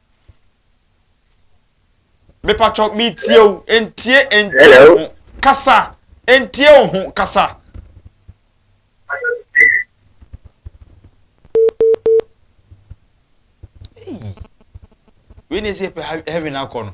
mepatwɔ metie o ntie ntie o ho kasa ntie o ho kasa. wei na ɛsɛ yɛpɛ heaven akɔ no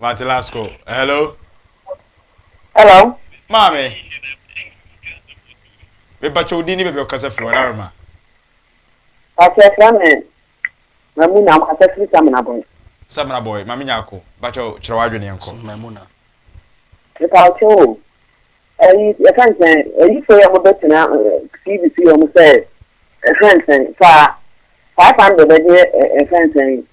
Mate last call. Hello. Hello. Maame. Mepakyɛ wo din ne baabi ɔkasa firi Wararoma. Pakyɛ ɛfrɛ me Mamu na ɔkasa firi Samina Boy. Samina Boy, Maame Nyako, pakyɛ kyerɛ w'adwene yɛn kɔ. Mepakyɛ o, Eyi yɛka nkyɛn ayifo yɛ ɔmo bɛ tena TV so yɛ ɔmo sɛ ɛfɛ nsɛn saa five hundred ɛdeɛ ɛfɛ nsɛn yi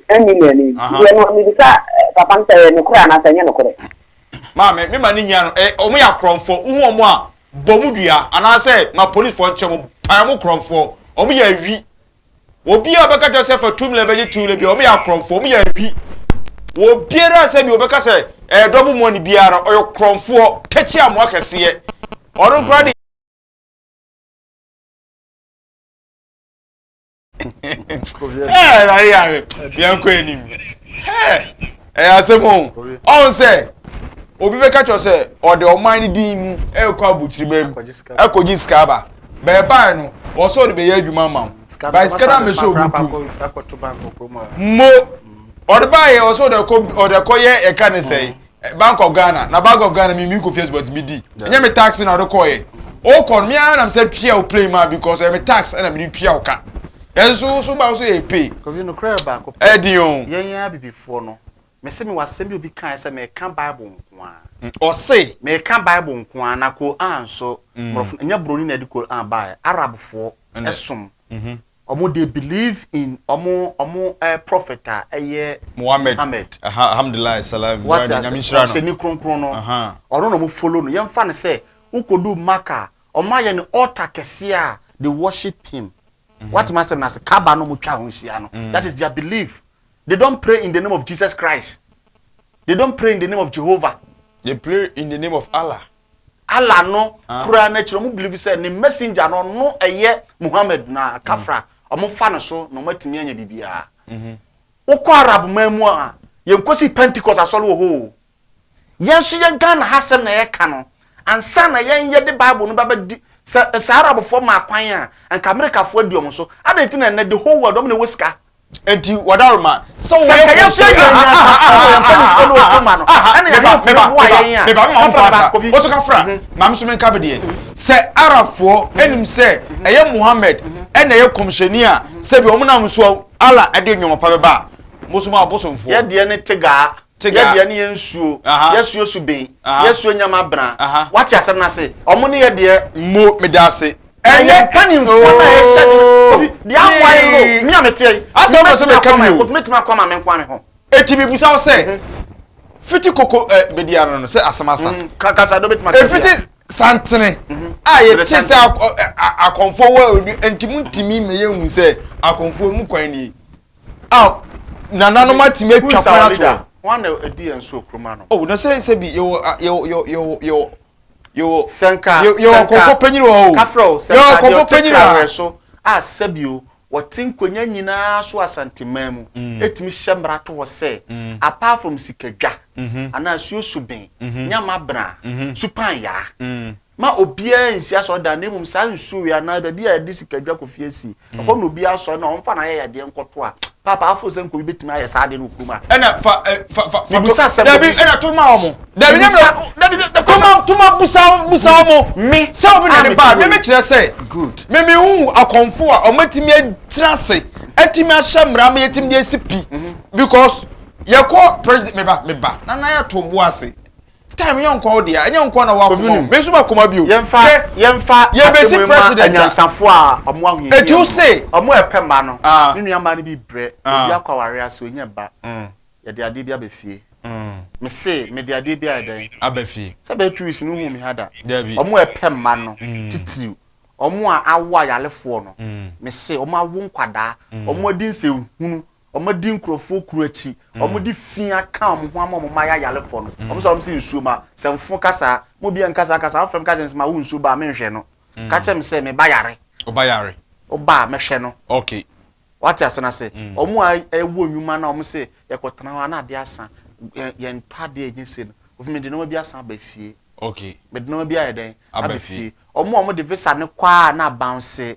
ten million yi deɛ no mibisa papa no sɛ ɛyɛ nokorɛ anaa sɛ ɛnyɛ nokorɛ. Maame me ma ne nyia no ɛ ɔmo yɛ akorɔmfoɔ wohu ɔmo a bɔ ɔmo dua anaasɛ ma policefoɔ nkyɛ ɔmo pae ɔmo korɔmfoɔ ɔmo yɛ awi. Obi a ɔbɛka kyerɛ sɛ fa tum na ɛbɛgye tum na bi wɔn yɛ akorɔmfoɔ, wɔn yɛ awi. Wɔ biara sɛ bi wɔbɛka sɛ ɛyɛ dɔbo mu ɔne biara ɔyɛ korɔmfoɔ tɛkyi amoa kɛseɛ. Ɔno koraa de ɛɛ na yɛ yɛn kɔ anim. Ɛyɛ asɛm o. Ɔn sɛ obi bɛka kyerɛ sɛ ɔde ɔman no din mu ɛkɔ abukyirima mu ɛkɔgye sika aba. Bɛ ɛbae no wɔ sɛ ɔde bɛyɛ adwuma ama wo. Bae sika no amɛhyɛ obi ntom. Mmo ɔde bae yɛ wɔ sɛ ɔde ɛkɔ ɔde ɛkɔ yɛ ɛka ne sɛe Bank of Ghana na Bank of Ghana me me kɔ fie but me di. Ɛnyɛ me tax na ɔde kɔɔ yɛ. Ɔkɔ no me ara na me sɛ tua wo plane maa because ɛyɛ me tax ɛna me de tua wo ka. Nanso wo so ba wo so yɛ epe. Kofi nokorɛ yɛ baako pɛ. Ɛyɛ den o. Yɛn yɛn abibifoɔ no. Mese mewɔ asɛm bi obi kaeɛ sɛ meka bible nkoaa. Ɔse. Meka bible nkoaa na Qur'an nso mmorɔfo ɛnyɛ broni na ɛde Qur'an baeɛ Arabfoɔ ɛsom ɔmo they believe in ɔmo ɔmo prophet a ɛyɛ Mohammed Mohammed Ɛha Alhamdulillah Salam Wate Wurade Nyame ase nhyira no ɔhyɛni kronkron no Ɛha ɔno na ɔmo follow no yɛmfa no sɛ wokɔduu Makkah Wɔayɛ no altar kɛseɛ a they worship him. Woate m'asɛm no ase? Kaaba no wɔtwa ho nhyia no. Mm. That is their belief. They don't pray in the name of Jesus Christ. They don't pray in the name of Jehovah. They pray in the name of Allah. Allah no ah. kura n'akyiri wɔn believe sɛ ne messenger no ɔno ɛyɛ Muhammad na mm. kafra wɔn fa no so na wɔn atumi anya biribiara. Mm-hmm. Wokɔ Arab man mu a yɛn kɔsi Pentecost asɔre wɔ hɔ o. Yɛn nso yɛn Ghana ha asɛm na yɛka no. Ansa na yɛn yɛde Bible no bɛba di sɛ sɛ Arabfoɔ maa kwan a, anka Amerikafoɔ adi wɔn so. Adɛn nti na ɛnnɛ the whole world wɔn na ɛwɔ sika? Enti wɔdaworo ma sɛ woyɛ nkɔmhyɛni. Sɛ nka yɛn nso yɛn yɛn asafo wɔ yɛn mpanimfoɔ ne wɔn ma no, ɛna yɛn ahemfo no boa yɛn a. Meba mema wo mfa asa. Wo so ka fra. Ma me nso menka me deɛ. Sɛ Arabfoɔ anim sɛ ɛyɛ Muhammad na ɛyɛ kɔmhyɛni a, sɛbi wɔn nam so a Allah de nneɛma pa bɛba a, mo nso moyɛ abosomfoɔ. Yɛn deɛ ne tigaa. Tegadeɛ ne yɛ nsuo, yɛ suo suben, yɛ suo nyama bena. Wate asɛm no ase? Ɔmo ne yɛ deɛ. Mo, meda ase. Ɛnyɛ kanimfoɔ no a ɛhyɛ de no. Kofi, deɛ awae no, me a meteɛ yi, Asɛm wopɛ sɛ meka bio? Kofi, mɛtumi ako ama me nko ara me ho. Enti mebusa wo sɛ, fiti koko ɛ, bedi ano no, sɛ asɛm asa. Ka, kasa do, mɛtumi ate biribiara. Efiti santene a yɛte sɛ akɔ, ɛ, akɔmfoɔ wɔ, enti montumi mma yɛnhu sɛ akɔmfoɔ mu kwan nie. a nananom atumi atwa kwan ato hɔ. Wɔn na ɛdi yɛn so okurom ano. O na sɛ sɛ bi yɛwɔ yɛwɔ yɛwɔ yɛwɔ yɛwɔ sɛnka yɛwɔ kɔnkɔ panyin wɔ hɔ o. Kafra o sɛnka deɛ ɔte kawɛ so a sɛbi o wɔte nkonnwa nyinaa so Asanteman mu etumi hyɛ mmara to hɔ sɛ apart from sikadwa anaa asuo suben, nyamabena, supan yaa. ma obiara nsi asɔredan na mmom saa nsuo wei anaa baabi a yɛde sikadwa kɔfie asi mm. ɛhɔ na obiara asɔre na ɔmfa n'ayɛyɛdeɛ nkɔto a paapa afo sɛ nkɔbi bɛtumi ayɛ saa adeɛ no kurom a ɛna fa eh, fa fa mebusa asɛm dabi ɛna to ma ɔmo dabi nyɛ toma toma busa busa ɔmo me sɛ obi na ne ba me mekyerɛ sɛ me me hu akɔnfo a ɔmo atumi atena ase atumi ahyɛ mmara ma yɛtumi de asi pi mm-hmm. because yɛkɔ president meba meba na na yɛto bo ase Taa me yɔnkoɔ wo deɛ a, ɛnyɛ wo nko ara na w'akoma o, me nso m'akoma bi o. Yɛmfa yɛmfa asɛm wei ma anyansafoɔ a wɔn ahohiahia mu no, wɔn a ɛpɛ mma no, me nua mmaa no bi rebrɛ, obi akɔ awareɛ ase ɔnnya ba, yɛde adeɛ bi aba fie, me se mede adeɛ bi ayɛ dɛn? Aba fie. Sɛ ɛbɛyɛ two weeks no wohuu me ha da? Dabi. Wɔn a ɛpɛ mma no, titiriw wɔn a awo ayarefoɔ no, me se wɔn awo nkwadaa, wɔn adi nsɛnhunu, Wɔadi nkurɔfoɔ kuro akyi, wɔde fi aka wɔn ho ama wɔn mma yɛ ayarefoɔ no, wɔsɔre wɔn sɛ nsuo ma, sɛ mfo ka saa, mo obiara nka saa kasa, wɔfrɛ me ka kyerɛ me sɛ ma wo nsuo ba a menhwɛ no, ka kyerɛ me sɛ me ba yare, ɔba yare, ɔba a mɛhwɛ no, ok, wate ase no ase, wɔn a ɛwɔ nnwuma no a wɔn sɛ yɛkɔtena hɔ a na adeɛ asa, yɛn tɔ adeɛ ɛnyɛ sei no, ofi mede nneɛma bi asan aba fie, ok, mede nneɛma bi ayɛ dɛn, aba fie, wɔn a wɔde visa no kɔ a na bounce,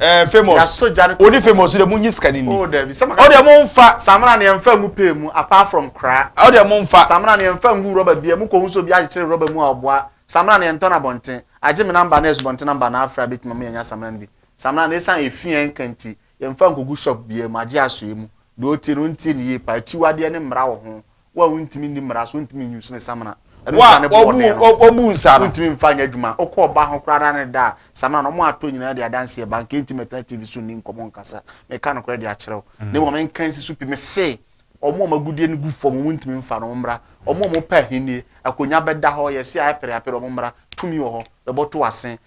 ɛɛ eh, famous yasɔ gya ne kɔkɔ odi famous de mo nye sika ni ni o oh, dɛbi sɛ maka ɔdi mo nfa samina ni ɛnfa ngu pay mu apart from kura ɔdi mo nfa samina ni ɛnfa ngu rɔba bia mu kɔ nso bi akyekyere rɔba mu a ɔboa samina ni ɛntɔ na bɔnten agye mi namba na ɛso bɔnten namba na afra bi tuma mu yɛn nya samina ni bi samina ni esan efi yɛn kanti yɛn fa nkogu shop bia mu agye aso yɛ mu deɛ ɔtie no ntie ne yie pa akyiwadeɛ ne mmara wɔ ho Wo a wontumi nni mmara so, wontumi nyi nsone samina. Ɛno nsa ne bɔɔ dɛn no. Wɔbu nsa no. Wontumi mfa nyɛ adwuma. Wokɔ ɔbaa ho koraa na ne da a, samina no wɔn ato nyinaa de adanseɛ ba. Nka enti mɛtena TV so nni nkɔmmɔ nkasa. Meka nokorɛ de akyerɛ wo. Na mmom nka nsi so pi. Mese, wɔn a wɔn agudeɛ no gu fam, wontumi mfa no, wɔmmra. Wɔn a wɔpɛ ahennie, akonwa bɛda hɔ, yɛse ayɛ pereapere, wɔmmra. Tumi wɔ hɔ. Bɛbɔto wo asen.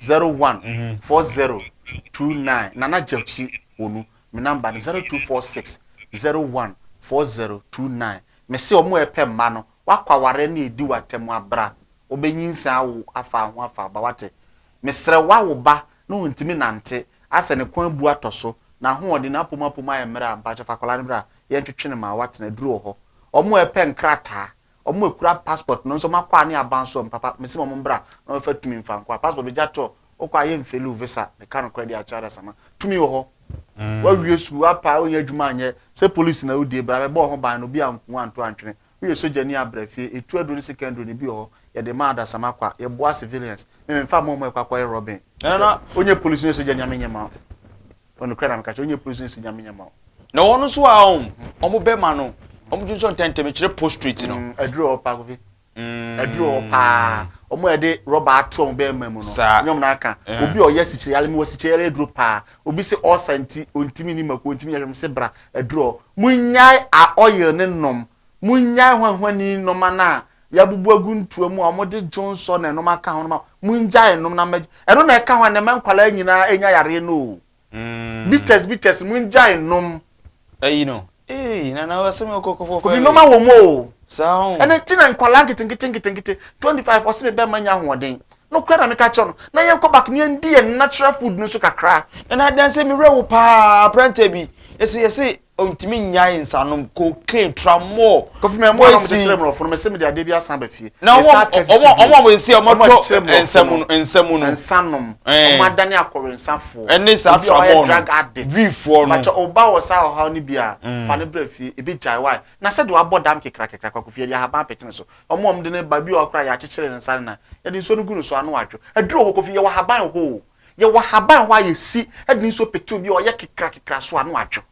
zero one four zero two nine nana gyakyi wɔ mu me number no zero two four six zero one four zero two nine me se ɔmo a ɛpɛ mma no wakɔ awareɛ no edi w'atɛm abra ɔbɛnyinsan awo afa ho afa aba wate mesrɛ wawo ba na ɔntumi nante asɛ ne kɔn abu atɔ so n'ahoɔden n'apom apom ayɛ mmerɛ a mpakyɛ fa akwadaa no bra yɛntwetwe no ma watena aduru wɔ hɔ ɔmo a ɛpɛ nkrataa Ɔmo a ekura passport no nso ɔmo akɔ a ne aban so ɔmo papa mese mo ɔmo mbra na ɔmo fa tumi nfa nkɔ a passport begya to ɔkɔ a yɛ nfeli wo visa meka nokorɛ deɛ akyɛre asama tumi wɔ hɔ wa wie sukuu wa pa onyɛ adwuma anyɛ sɛ police na odie bra bɛbɔ ɔho ban na obi anku wo anto antwene woyɛ sogya ni a bra fie etu aduro ne sika nduro no ebi wɔ hɔ yɛde ma adasama kwa yɛ boa civilians me me nfa mo ɔmo ɛkɔ akɔ yɛ robbing ɛna na onyɛ police onyɛ sogya ni a me nyɛ ma Ɔno kura na meka kyerɛ ɔnyɛ prison si nyame nyama o. Na wɔn nso a ɔm ɔmo bɛma no ɔmo gye nsɔ ntɛntɛm kyerɛ postrate no. Aduru mm, ɔwɔ paa kofi. Mm. Aduru ɔwɔ paa. Ɔmo a yɛde rɔba ato ɔmo bɛɛma mu no. Saa. Nyɛ ɔmo na aka. Eh. Obi a ɔyɛ asikyire yare mi wɔ asikyire yare aduro paa. Obi se ɔsa nti ontimi ni mako ontimi nyɛ hwɛ mo se bra aduru ɔ. Mo nyae a oil ne nom. Mongyae hwanhwani nnoma no a yɛabubu agu ntoa mu a wɔde dwonsɔ na nnoma ka ho no ma mongyae nnom na mmɛgye. Ɛno na ɛka ho a nɛma nkwadaa nyinaa anya yareɛ no o. Bitters bitters no mongyae nnom. Ayi no eii nana wɔ se me kɔ kɔfɔ fɛ. Ofi nnoma wɔ mu o. Saa ho. Ɛno nti na nkwadaa nketenkete nketenkete 25 ɔse me bɛ ma nya ahoɔden. No kora na meka kyerɛ no na yɛn kɔ back na yɛn di yɛn natural food no so kakra. Nana adanse me werɛ wo paa aberanteɛ bi ese yɛse Ontumi nnyae nsanom cocaine tra more. Kofi mɛ mmoa na wɔde kyerɛ mmorɔfo no mese mede adeɛ bi asan aba fie na wɔn wɔn a wɔn si a wɔn tɔ nsa mu no nsa mu no nsa nom wɔn adane akɔwensafoɔ ɛne saa tramɔɔ drug addict vifoɔ no makyɛ ɔba wɔ saa ɔhaw no bi a fa ne brɛ fie ebi gyae wae na sɛ de wabɔ dam kekra kekra kwa kofi yɛde ahaban apete ne so wɔn wɔn de ne ba bi wɔ akora yɛakyekyere ne nsa ne nan yɛde nsuo no gu ne so ano adwo aduro hɔ kofi yɛwɔ ahaban hɔ o Yɛwɔ ahaban hɔ a yɛsi de nsuo petew bi a ɔyɛ kekrakekra so a na wɔatwe.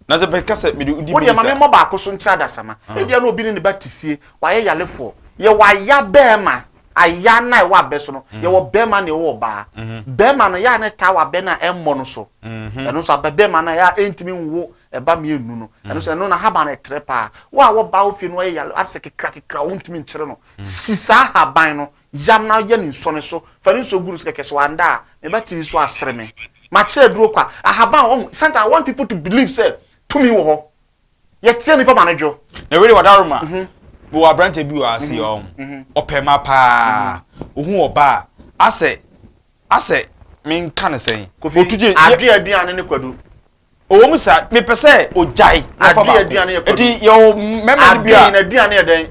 Na sɛ meka sɛ mede wodi Wodeɛ ma me mmɔ baako so nkyerɛ adasamma. Ebia na obi ne ne ba te fie, wayɛ yarefoɔ. Yɛwɔ aya bɛrima, aya no a ɛwɔ abɛ so no, yɛwɔ bɛrima na ɛwɔ ɔbaa. Bɛrima no, ɛyɛ a na ɛtaa wɔ abɛ no a ɛmmɔ no so. Ɛno nso abɛ bɛrima no a ɛyɛ a ɛntumi nwo ɛba mmienu no, ɛno nso ɛno n'ahaban no ɛtrɛ paa. Wo a w'ɔbaa wo fie na wayɛ yareɛ, asɛ kekrakekra a wontumi nkyere no, si saa ahaban no Yam na yɛ no nsuo no so. Fa ne nsuo gu no so kɛkɛ. Sɛ wanda a, me ba tiri nso asere me. Makyerɛ aduro kwa. Ahaban, wahu? Sometimes I want people to believe sɛ tumi wɔ hɔ. Yɛteɛ nipa ma no dwo. Na wei deɛ wadaroma. Mewɔ aberanteɛ bi wɔ ha sei ɔho. Ɔpɛ mma paa. Ɔhu ɔbaa a, asɛ, asɛ menka no sɛn? Kofi, Adwe aduane ne kwadu. Ɔwɔ mu saa, mepɛ sɛ ɔgyae. Adwe aduane yɛ kwadu. Eti yɛwɔ mmarima no bi a. Adwe, n'aduane yɛ dɛn?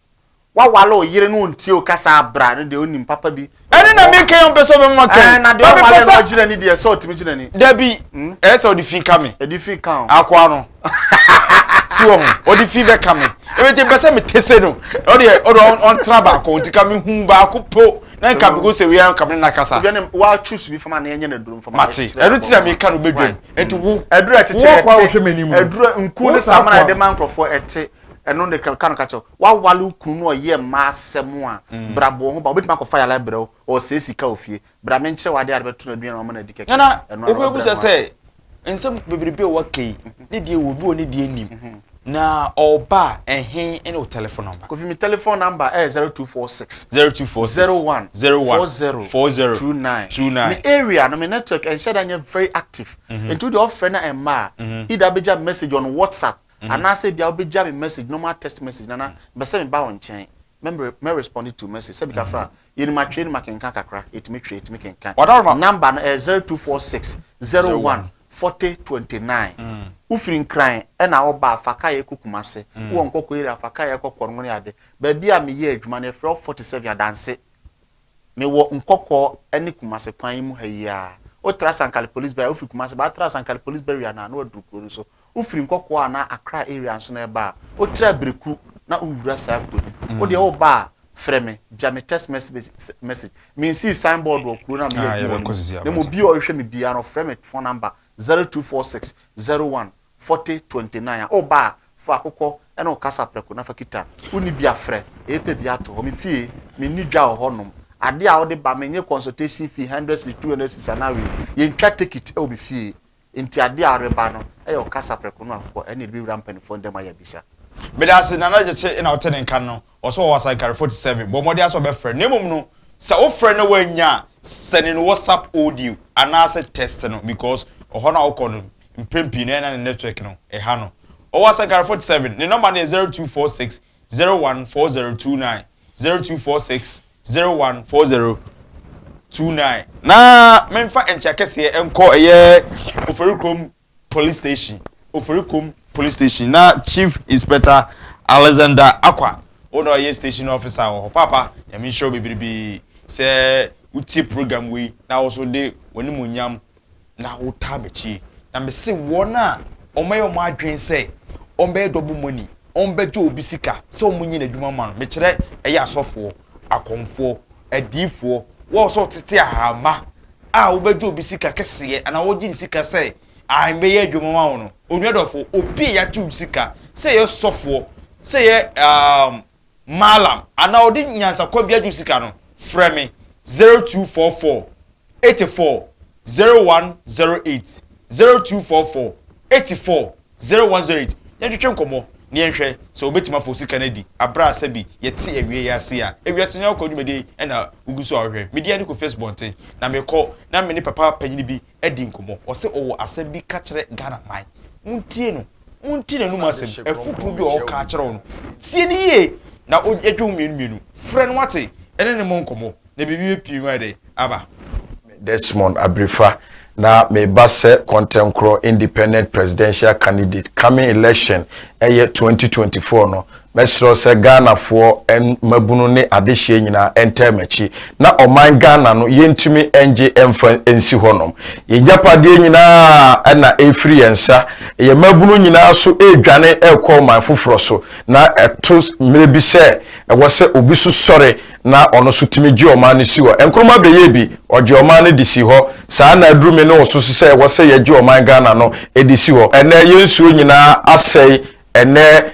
Waware o yere no ontie o kasa abra no deɛ onim papa bi. Ɛne na mi kɛn ɔmpɛ sɛ ɔbɛ mɔ kɛn. Ɛɛ na deɛ ɔware no ɔgyina ni deɛ sɛ ɔtumi gyina ni. Dabi hmm? ɛyɛ sɛ ɔde fi ka me. Ɛde fi ka o. Akoa no. Si wɔ ho ɔde fi bɛ ka me. Ebi ti bɛ sɛ me tese no ɔde ɔde ɔntena baako nti ka me hu baako po na nka bi ko sɛ wia nka me na kasa. Ebi ɛne wa choose bi fama na yɛnyɛ na duro fama. Mate ɛno ti na mi ka no bɛ dwam nti wo. Ɛduro ɛkyekyere ɛte. Wo kɔ a wɔhwɛ m'anim no. Ɛduro nku ne samana ɛde ma nkorɔfoɔ ɛte. Ɛno ne ka no ka kyerɛ wo. Woawale wo kunu na ɔyɛ mma asɛm a, bra bɔ wo ho ban. Obetumi akɔfa yare abrɛ wo, ɔresɛe sika wɔ fie. Bra menkyerɛ wo ade a wode bɛto no aduan anaa wama no adi kɛkɛ. Ɛno ara na wabrɛ ho ase. Wobebisa sɛ, nsɛm bebrebe a woaka yi, ne deɛ wɔ mu, ebi wɔ hɔ ne deɛ nnim. Na ɔba a, ɛhe ne wo tɛlefon nɔmba? Kofi, me tɛlefon nɔmba yɛ zero two four six. Zero two four six. Zero one. Zero one. Four zero. Four zero. Two nine. Two nine. Me area no, me network ɛnhyɛ da nyɛ very active. Nti wo deɛ ɔfrɛ na ɛmma a, either bɛgya me message on WhatsApp Anaasɛ ebia wobɛgya me message, normal text message, na na mepɛ sɛ meba wo nkyɛn mɛ respond to message. Sɛbi ka fra a, yɛnim atwerɛ, yɛnim akenkan kakra, yɛtumi twerɛ, yɛtumi kenkan. Number no ɛyɛ zero two four six zero one forty twenty nine. Wofiri Nkran na woba a, fa kaeɛ kɔ Kumase. Wowɔ Nkɔkɔ area a, fa kaeɛ kɔ Kɔrngone ade. Baabi a meyɛ adwuma no, yɛfrɛ hɔ forty seven, Adanse. Mewɔ Nkɔkɔɔ ne Kumase kwan yi mu ha yi ara. Wotra Sankale Police Barrier a, wofiri Kumase ba a, tra Sankale Police Barrier no a, na woaduru kuro no so. Wofiri Nkɔkɔɔ anaa Accra area nso na ɛreba a, wotra Abereku na wowura saa kuro no mu. Wodeɛ woreba a, frɛ me, gya me text message. Mensii sign board wɔ kuro no a meyɛ adwuma wɔ no mu, na mmom obiara a ɔrehwɛ me biara no, ɔfrɛ me phone number, 0246 01 Forte 29 a o ba a fa wo kɔ ɛna wo kasa prɛko na fa kita wo ni bia frɛ ee pɛ bia to hɔ me fie me nni dwa wɔ hɔ nom adeɛ a wo de ba me nye consultation fee hundred cedis two hundred cedis anaa wei yɛ ntwa tekit ɛwɔ me fie nti adeɛ a wo reba no ɛyɛ wo kasa prɛko no a kɔ ɛna ɛde bɛ wura mpaninfoɔ ndɛm ayɛ bisa. Meda ase Nana Gyekye ena wote ne nka no ɔse ɔwɔ Asankare forty seven bɔ mmɔden ara sɛ ɔbɛfrɛ na mmom no sɛ wo frɛ na wannya a sɛne no WhatsApp audio anaasɛ text no because ɔhɔ no a wokɔ no Mpɛn pii no ɛyɛ na ne network no ɛha no. Ɔwɔ Asankare Fort Seven. Ne nɔma no yɛ zero two four six zero one four zero two nine, zero two four six zero one four zero two nine. Na menfa nkyea kɛseɛ nkɔ ɛyɛ Oferikurom Police Station, Oferikurom Police Station na Chief Inspector Alexander Akwa wo na ɔyɛ Station Officer wɔ hɔ. Paapa Nyame nhyira wo bebrebe sɛ wotie program wei na wo nso de w'animuonyam na wotaa m'akyi, na mese wɔn a wɔayɛ wɔn adwene sɛ wɔbɛyɛ dɔbo mɔni, wɔbɛgye obi sika sɛ wɔnyɛ n'adwuma mma no, mekyerɛ ɛyɛ asɔfoɔ, akɔmfoɔ, adiyifoɔ, wɔn sɛ wɔtete ahama a wobɛgye obi sika kɛseɛ anaa wɔgye ne sika sɛ ae mɛyɛ adwuma ma wo no, onua dɔfo, obi a yɛagye wo sika sɛ yɛ sɔfoɔ, sɛ yɛ um, Mallam anaa ɔde nyansakwan bi agye wo sika no, frɛ me 0244 84 0108, 0244 84 0108, yɛntwetwe nkɔmmɔ na yɛnhwɛ sɛ wobɛtumi afa wo sika no adi berɛ a sɛbi yɛte awiei yi ase a. Ewiase Nyanko Dwumadie na wogu so a wohwɛ. Medin ara ne Kofi Asubɔnten, na mekɔ na me ne papa panyini bi adi nkɔmmɔ. Ɔse ɔwɔ asɛm bi ka kyerɛ Ghana man. Montie no. Monte n'anum asɛm. Afutuo bi a ɔka akyerɛ wo no, tie no yie na yɛdwen ho mmienu mmienu. Frɛ no wate, ne no mmɔ nkɔmmɔ na biribi bɛpie mu ayɛ dɛn? Aba. Me Desmond Abirifa na me ba sɛ Kɔntɛnkorɔ Independent Presidential Candidate. Coming election ɛyɛ twenty twenty four no, Mɛserɛ sɛ Ghanafoɔ mmabunu ne adehyeɛ nyinaa ɛntɛɛ m'akyi na ɔman Ghana no yɛntumi ɛngye ɛmfa ɛnsi hɔ nom. Yɛn gyapadeɛ nyinaa ɛna ɛrefiri yɛn nsa. Yɛn mmabunu nyinaa so ɛredwane ɛrekɔ ɔman foforɔ so na ɛto mmerɛ bi sɛ ɛwɔ sɛ obi so sɔre na ɔno so tumi gye ɔman no si hɔ. Nkrumah bɛyɛɛ bi, ɔgyee ɔman no de sii hɔ. Saa ara na aduru me ne wo so sɛ ɛwɔ sɛ yɛgye ɔman Ghana no ɛde si hɔ. Ɛnnɛ yɛn nsuo nyinaa asɛe, ɛnnɛ.